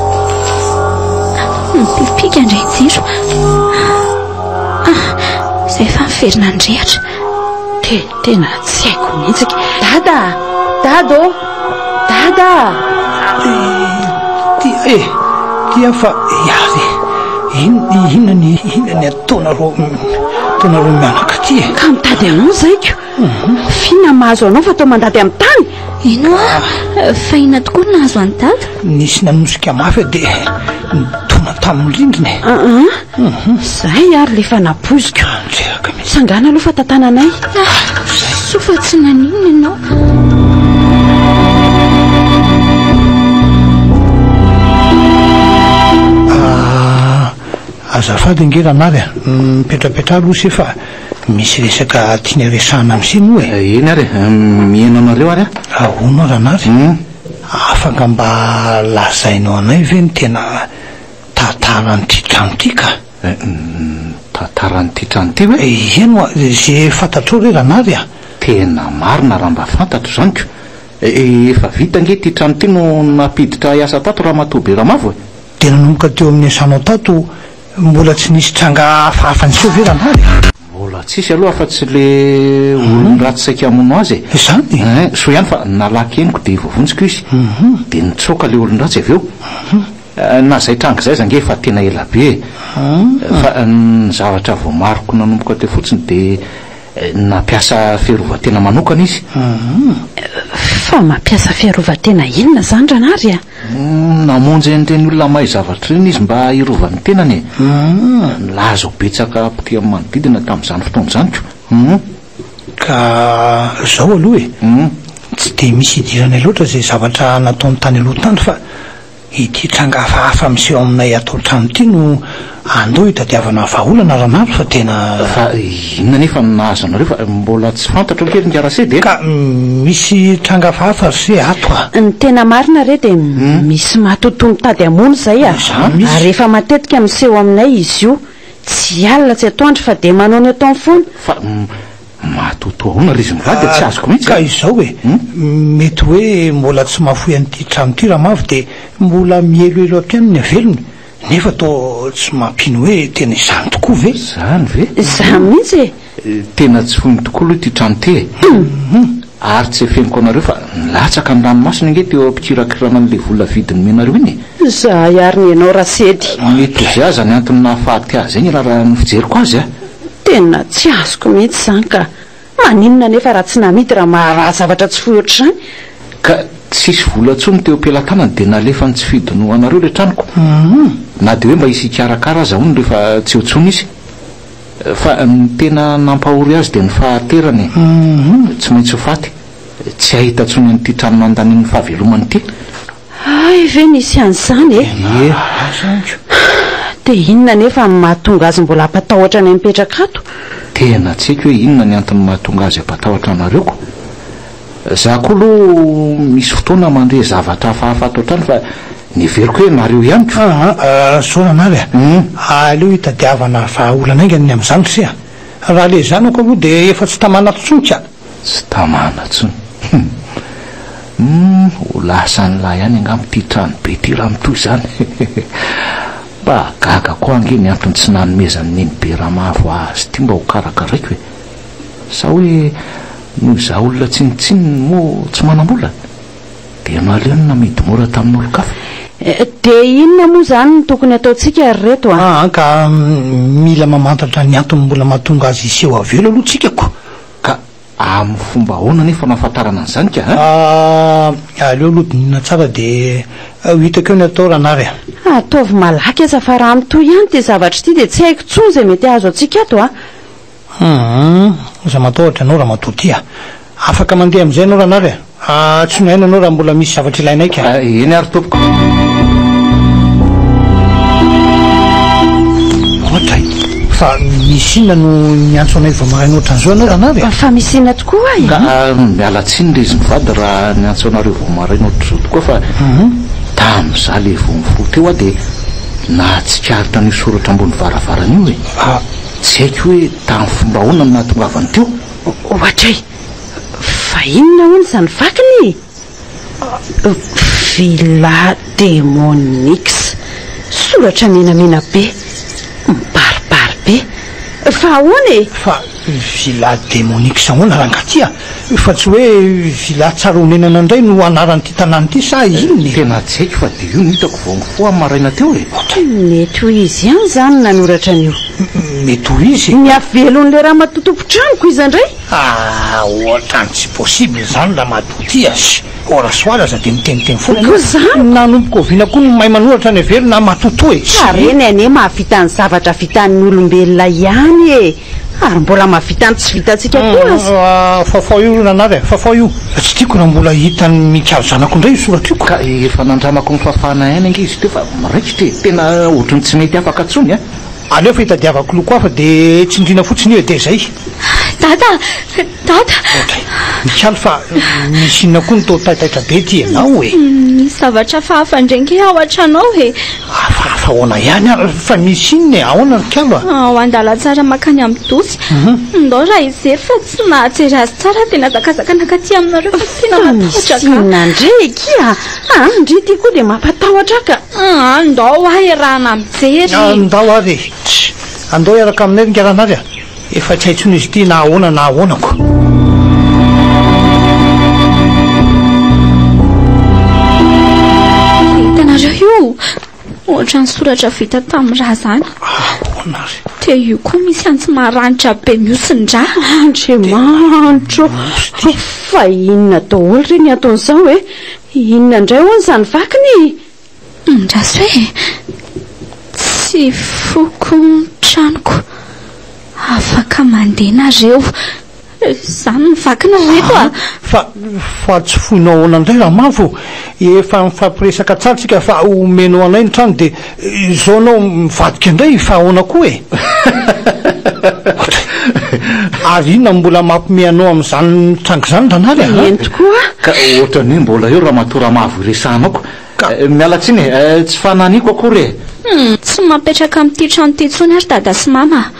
Mipipika indray jiro. Ah, izay efa miverina ny rehatra. Te, tena tsy haiko mihitsy. Dada! Dada ô! Dada! Tia e! Tia fa iavy e! Inona ny inona ny ataonareo ataonareo mianaka ty e! Ka mitady anao zaiko! Mhm. Fina mahazo anao fa tao mandady amin'ny tany! Ino a! Fahina tokoa ny nahazo an'i Dada! Nisy nanosika mafy dia nidona tamin'ny rindrina e! Hum, zay ary le fa napoiziko. Jeraka mihitsy. Sangana aloha fa tantananay. Ah, soa fa tsy naninona ianao. azafady ange ranary a mipetrapetra aloha se fa misy resaka tiany aresahana am se moa e eny ary miheno anareo ary a ahoana ranary afaka mba lazainao anay ve ny tena Tantaran'ity trano ity ka. Uhm, tantaran'ity trano ity ve? Eny oa, ze fantatrao re Ranary a! Tena marina raha mba fantatro izany ko. Efa vita ange ity trano ity no nampiditra hiasa tato Ramatoa Beramavo e! Dia nanomboka teo amin'ny asanao tato, mbola tsy nisy tranga hafa afa-niseho ve Ranary e? Mbola tsisy aloha afa-tsy ilay olon-dratsy saika hamono azy e! Izany e! Uhm, soa ihany fa nalaky henoko dia voavonjiko izy. Uhm. Dia nitsoaka ilay olon-dratsy avy eo. Uhm. Na zay tranga zay aza ange efa tena ela be e! Fa ny zavatra voamariko nanomboka teo fotsiny de nampiasa fiarovan-tena manokana izy. Fa mampiasa fiarovan-tena inona zany ranary a? Namonjy an'ireny olona mahay zavatra ireny izy mba hiarovany ny tenany e! Nilaza ho betsaka mpitia ny manodidina tamin'izany fotoana izany ko! Ka zao aloha e! Tsy de misy idirany loatra izay zavatra nataony tany aloha tany fa. Ity tranga hafahafa miseho aminay ato an-trano ity no andeha hitadiavana vahaolana ranandro fa tena. Fa inona anefa no nahazo anareo fa mbola tsy fantatro akia ry Ngarase dia. Ka misy tranga hafahafa ry se ato a! Ny tena marina re dia misy matotoa mitady hamono izay a! Ary efa matetika miseho aminay izy io, tsy alina tsy atoandro fa dia manao ny ataony foana. Fa Matoatoa ahoana ry izy mivady a, tsy azoko mihitsy a! Ka izao e, mety hoe mbola tsy mahafoy an'ity trano ity Ramavo dia mbola mihelohelo hatrany ny havelony nefa toa tsy mampino hoe tena izany tokoa ve? Izany ve? Izaho mihitsy e! Tena tsy foiny tokoa aloha ity trano ity e! Ary tsy efeniko anareo fa nilatsaka ny ranomasony ange teo am-pikirakirana an'ilay vola vidy nomena anareo iny e! Izahay ary ny ianao Rasedy! Mety ho izay aza ny antony nahafaty ahy izay ny raharaha ny fijeriko azy a! Tena tsy azoko mihitsy izany ka! Maninona anefa raha tsy namidy raha maharaha zavatra tsy foy ohatr'izany? Ka tsisy vola intsony teo am-pelatanany dia nalefany tsy fidinohanareo ilay tranoko. Na dia hoe mba hisy hikarakara aza hono rehefa tsy eo intsony izy. Fa ny tena nampahory azy dia ny fahaterany e! Tsy maintsy ho faty, tsy hahita intsony an'ity trano nandaniany ny fahavelomany ity. Hay ve misy an'izany e? Ie, aza andro. Dia inona anefa ny mahatonga azy mbola hampatahotra anay mipetraka ato? Tena tsy haiko hoe inona ny antony mahatonga azy hampatahotra anareo ko. Za ko lo misy fotoana mandre zavatra hafahafa ato an-trano fa ny heveriko hoe nareo ihany ko. Aa soa anary a! aleo hitadiavana vahaolana aingana ny amin'izany ry se a! Raha lezanako aloha dia efa tsy tamana ato intsony ka! Tsy tamana tsony. Humm ho lasan'lah ihany angamba ity trano be ity raha mitohy izany Mba gaga koa ange ny antony tsy nanomezan'i Neny be Ramavo azy ity mba ho karakaraiko e! Sa hoe noho izaho olona tsinontsinona moa tsy manam-bola? Dia naleo ny namidy mora tamin'olon-kafa? Dia inona moa izany no tokony hataontsika ry reto a? Aa ka mila mamantatra ny antony mbola mahatonga azy hiseho avela aloha tsika ko! Ka amin'ny fomba ahoana anefa no ahafantarana an'izany ka a? Ah, aleo aloha dinihina tsara dia ho hitako eo ny atao ranary a! Ataovy malaky aza fa raha mitohy ihany ity zavatra ity dia tsy haiko intsony izay mety hahazo antsika ato a! Hum, aza matahotra anao ramatoa ty a! Afaka mandeha amin'izay ianao ranary a! Antsoinay ianao raha mbola misy zavatra ilainay ka. Eny ary tompoko. Ohatra e! Fa misy inona no niantso anay vao maraina ohatran'izao ianao ranavy a? Fa misy inona tokoa e? Ka miala tsiny re izy mivady raha niantso anareo vao maraina ohatr'izao tokoa fa tamin'izaho ilay vao mifoha teo aho dia nahatsikaritra an'io soratra ambony varavarana io e! Tsy haiko hoe tamin'ny fomba ahoana no nahatongavany teo. Ohatra e! Fa inona hono izany vakiny e? Villa Demonix. Soratra menamena be. Mibaribary be. Fa ahoana e? Fa Villa Demonix ahoana rangahy ty a? Fa tsy hoe Villa Tsara Honenana indray no anaran'ity tanàna ity sa inona e? Tena tsy haiko fa dia io no hitako vao mifoha amin'ny maraina teo e. Mety ho izy ihany izany no nanoratra an'io. Mety ho izy. Ny havelon'ilay ramatoa tompon-tranoko iza indray? Ah ohatrany tsy possible izany ramatoa ty as, ora soir aza dia miteniteny foana ianao. Koa izany? Nanomboka oviana koa no mahay manoratra any ivelany an matotoa e? Ka reny anie mahavita ny zavatra vitan'ny olombelona ihany e! Ary mbola mahavita ny tsy vitantsika koa aza. Ah Fafao io ranary a, Fafao io. Tsy tiako raha mbola hitan'ny mikalo zanako indray io soratra io. Ka efa nandramako ny fafana aina ange izy teo fa raikitra e! Tena ohatran'ny tsy mety afaka intsony an! Aleo fa itadiavako loko hafa dia tsindriana fotsiny io e dia izay. Dada! Dada! Otrey, misaly fa misy inona koa no toa taitaitra be ity ianao e? Misy zavatra hafahafa indray ange ao an-tranao e! Hafahafa ahoana ihany ary? Fa misy inona e? Ahoana ry kalo a? Ao an-dalantsara mankany amin'ny dosy. Mhm. Ndao raha hijery fa tsy nahajery azy tsara aho dia nahazakazaka nankaty aminareo fa tena Fa misy matahotra ka. inona ndry eky a? Ah, ndry ity koa dia mampatahotra ka. Ah, ndao aho iarahana mijery. Ah, Ndao ary e! Tssy! Andao hiaraka aminay ry ngaranary a! Efa tsy hay tsony izy ity na ahoana na ahoana ko. ohatran'ny soratra vita tamin'ny raha zany ahoana ry te io koa misy antsy maranitra be miosin-dra andriamanitro fa inona daholo re ny ataon'izao e inona indray hoany izany vakiny Andraso e! Tsy foko ny tranoko. Afaka mandeha nareo. Za no vaky ny reto a! Fa, fa tsy foinao ahoana indray Ramavo? Efa nifampiresaka tsara tsika fa homenao anay ny trano dia izao ianao mivadika indray fa ahoana koa e? Ary inona no mbola mampiomehy anao amin'izany tranga izany Ranaly a? Eny tokoa a! Ka ohatran'ny hoe mbola eo Ramatoa Ramavo iresahanao ka Ka. Miala tsiny e, tsy fananiko akory e. Tsy mapetraka amin'ity trano ity intsony ary dada sy mama a.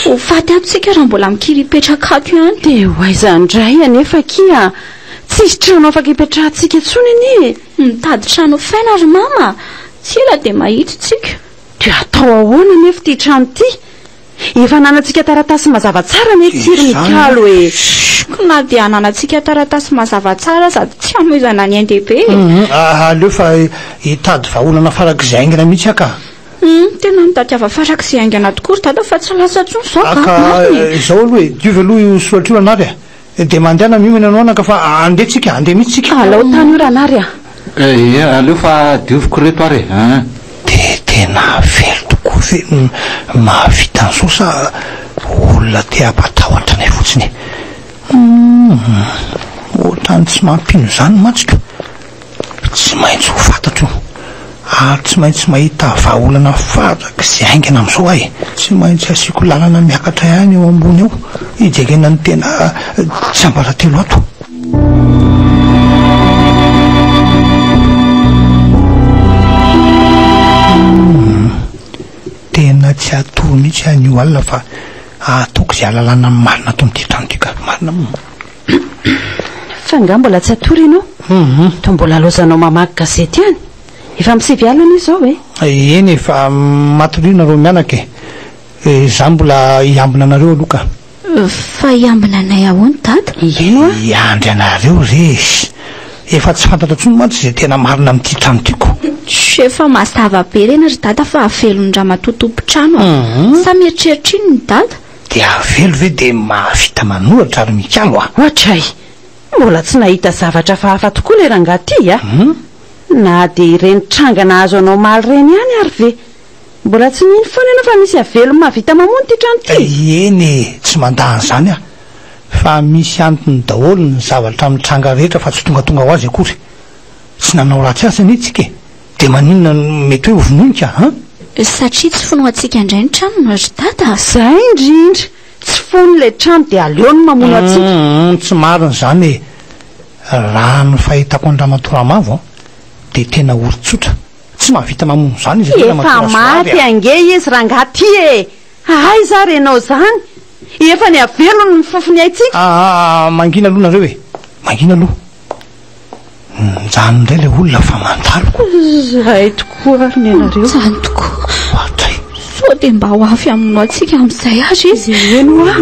Ho faty ato tsika raha mbola mikiripetraka ato ihany. Dia ho aiza indray anefa akia a. Tsisy trano afaka hipetrahantsika intsony anie e. Mitady trano hofaina ry mama a. Tsy ela dia mahita isika. Dia atao ahoana anefa ity trano ity. Efa ananantsika taratasy mazava tsara anie tsiry ny kalo e! Shhh! Na dia ananantsika taratasy mazava tsara aza dia tsy hamoizana ny NDB e! Humm! Aleo fa hitady vahaolana farak'izay haingana mihitsy aho ka! Humm! Tena mitadiava farak'izay haingana tokoa ry dada fa tsy lasa intsony izao ka! Ka izao aloha e! Diovy aloha io soratra io Ranary a! Dia mandehana miomana anao anaka fa andeha tsika, andeha mihitsy tsika. Alao tany io ranary a! Eeh aleo fa dioviko reto ary e! Eeh. Dia tena very tokoa ve ny mahavita an'izao sa olona te hampatahotra anay fotsiny e? Humm, ohatran'ny tsy mampino izany mantsy ka. Tsy maintsy ho fantatro ary tsy maintsy mahita vahaolana farak'izay haingana amin'izao aho e! Tsy maintsy asiako lalana miakatra ihany eo ambony eo hijerena ny tena tsiambaratelo ato. Humm. Tena tsy hatory mihitsy aho anio alina fa hahatoky izay alalana marina ato amin'ity trano ity ka! Marina? Fa nga mbola tsy hatory ianao? Toa mbola laozanao mamaky gazety ihany? Efa amin'ny sivy alina izao e! Eny e, fa matoria nareo mianaka e! Izaho mbola hiambina anareo aloha ka! Fa hiambina anay ahoana Dada? Hihaino aho! Hiandry anareo re e! Efa tsy fantatra intsony mantsy izay tena marina amin'ity trano ity ko! Tjo, efa mazava be reny ry Dada fa havelon'ny ramatoa tompon-trano a! Sa mieritreritra inona i Dada? Dia avelo ve dia mahavita manoratra ary mikalo a? Ohatray! Mbola tsy nahita zavatra fa hafa tokoa ilay rangahy ty a! Na dia ireny tranga nahazo anao omaly ireny ihany ary ve mbola tsy nino foana ianao fa misy avelo mahavita mamono ity trano ity? Eny e! Tsy mandà an'izany aho fa misy antony daholo ny zavatra mitranga rehetra fa tsy tongatonga ho azy akory. Tsy nanao ratsy asa anie tsika e! Dia maninona no mety hoe ho vonoinka an? Satria tsy fonoantsika indray ny tranony ry Dada. Izay indrindra, tsy fono ilay trano dia aleo ny mamono antsika. Humm tsy marina izany e! Raha ny fahitako an'i Ramatoa Ramavo an, dia tena olon-tsotra, tsy mahavita mamono izany izy ity Ramatoa Rasoavy a! Efa maty ange izy rangaha ty e! Aiza ary ianao izany? Efa nihavelony ny fofony haintsika! Aa mangina aloha nareo e! Mangina aloha! Mijanona indray ilay olona fa mandalo. Zahay tokoa ary ny anareo. Mijanona tokoa. Hoatray. Sao dia mba ho avy amin'ny antsika amin'izay ary izy. Eny hoa.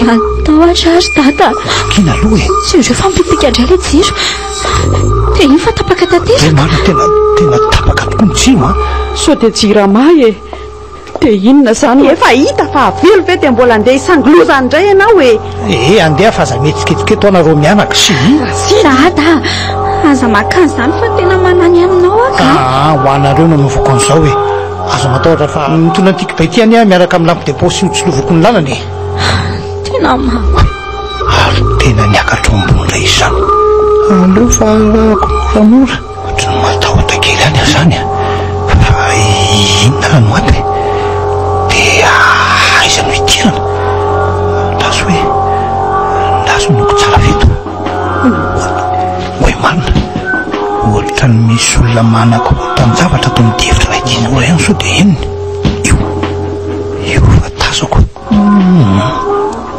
Matahotra ary dada. Vakina aloha e. Sy ireo fa mipipika indray ilay jiro. Dia iny fa tapaka tanteraka. Dia marina tena tena tapaka tokoa ny jiro a. Sao dia jirama e. Dia inona izany hoe efa hita fa avelo ve dia mbola handeha hisangiloza any indray ianao e? Ee, andeha fa aza mihetsiketsika eto ana reo mianaka, sii. Rasera a da! Aza makany izany fa tena manany aminao aho ka! Aa, ho anareo no anaovako an'izao e! Aza matahotra fa mitondra an'ity kibay ity anie aho miaraka amin'ny lampe de poche sy hotsiloviko ny lalana e! Tena maha. Ary tena niakatra ombony indray izany! Aleo fa arahako moramora. Ohatran'ny matahotra kely any aho zany a! Fa inona ary no antony? De aiza no hidirana? Andraso hoe, andraso ny noko tsara avy eto. Oay marina, ohatran'ny misy olona manakorontan-javatra ato amin'ny efitra iray ity. Io raha io sao de henony? Io, io fa tazako. Humm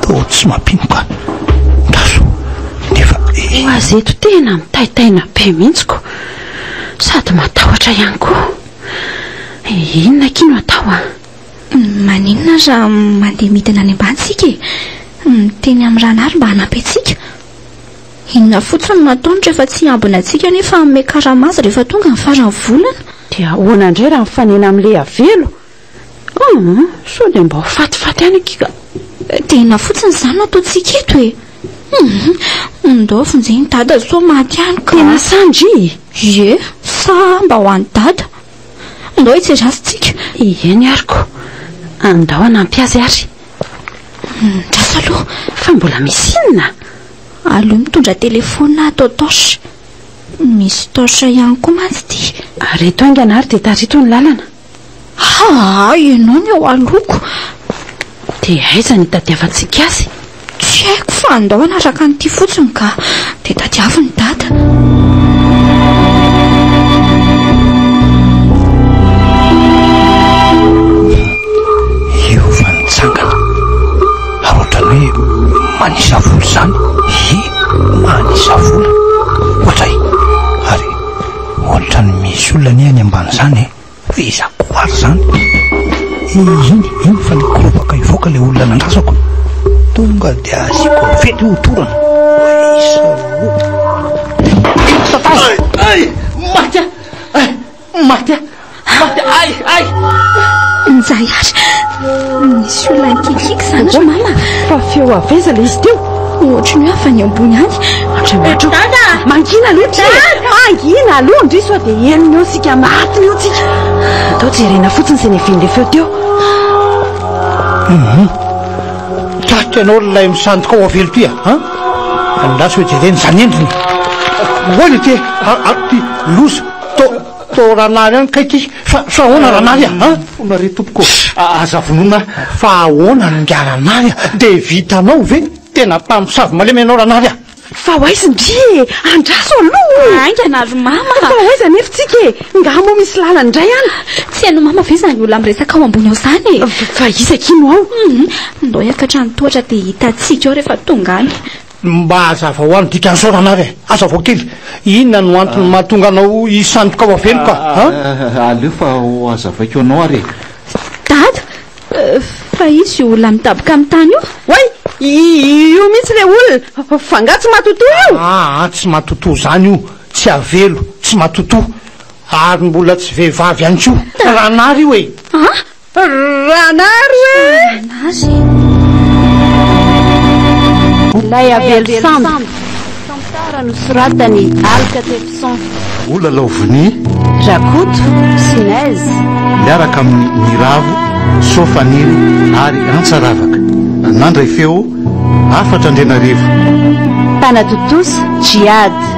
toa tsy mampino ka ndazo nefa e. Ho azy eto tena mitaitaina be mihitsy ko sady matahotra ihany koa. Inona akia no atao an? Maninona raha mandeha midina any ambany tsika e? Miteny amin'ny Ranar mba hanampy antsika. Inona fotsiny no ataony rehefa tsy hiambina antsika nefa hanome karama azy rehefa tonga ny faran'ny volana? Dia ahoana indray raha mifanena amin'ny Leavelo? Aa! sao dia mba ho fatifaty any akia ka! Tena fotsiny izany no ataontsika eto e! Humm! Ndao vonjeny dada sao maty any ka! Tena sa ndry? Ie! Sa mba ho any dada? Ndao hitserasintsika! Ie ny ary ko! Ndao hanampy azy ary! Midraso aloha! Fa mbola misy inona? Aleo mitondra telephone atao torche! Misy torche ihany koa mantsy ity! Ary eto haingana ary dia tarito ny lalana! Haa ianao ny eo alohako dia aiza ny hitadiavantsika azy? Tsy haiko fa andao hanaraka an'ity fotsiny ka dia tadiavo ny dada. manisa vola izany, ie manisa vola, ohatray. Ohatrany misy olona anie any ambany zany e! Fa iza koa ary zany? E, iny, iny fa nikorobaka hivoaka le olona nandrasako! Tonga de asiako vety ho torana! Isa o! Ay! Maty ah! Ay! Maty ah! Hady, ay, ay! Njay ary, nisy olona nikikiky zany ry mama. Fa feo avy aiza ilay izy teo? Ohatry ny hoe avy any ambony any. Andriamanitro. Dada! Mangina aloha ty. Mangina aloha ndry sao dia henony eo isika maty eo tsika. Atao jerena fotsiny izay nevin'ilay feo teo. Mhm. Tratra ianao ilay misandoka ao avelo ty a. Andraso jerena izany endriny. Hoy le ty, ty loza. Atao Ranary any kay ty fa fa ahoana Ranary a? An? Fona re tompoko a, aza vonoina a! Fa ahoana no nga Ranary a? Dia vitanao ve? Tena mpamosavy malemy ianao Ranary a! Fa ho aiza ndry e? Andraso aloha o! Haingana ry Mama! Fa ho aiza anefa tsika e? Nga moa misy lalana indray an? Tsy hain'i Mama ve izany olona miresaka ao ambony ao izany e? Fa iza kino ao? Ndao hiakatra ny tohatra dia hitantsika ao rehefa tonga any. Mba hazava ho ahy ny dikan'ny saorana ary e! Hazavao kely! Inona no antony mahatonga anao hisandoka ao aveloko a! Ahh! Aleo fa hohazavaiko anao ary e! Dada! Fa izy io olona midaboka amin'ny tany io? Oay! Io mihitsy ilay olona! Fa angaha tsy matotoa io? Aa! Tsy matotoa izany io! Tsy avelo! Tsy matotoa! Ary mbola tsy vehivavy ihany koa! Ranary io e! An! Ranaro e! Nazy Ilay avelo sambo Tantara nosoratany Alcatefson Olala ao vonia Rakoto Sinez Miaraka amin'ny Niravo, Soa Faniry ary Antsa Ravaka. Nandray feo, Hafatra Andrianarivo. Mpanatontosa Djihad.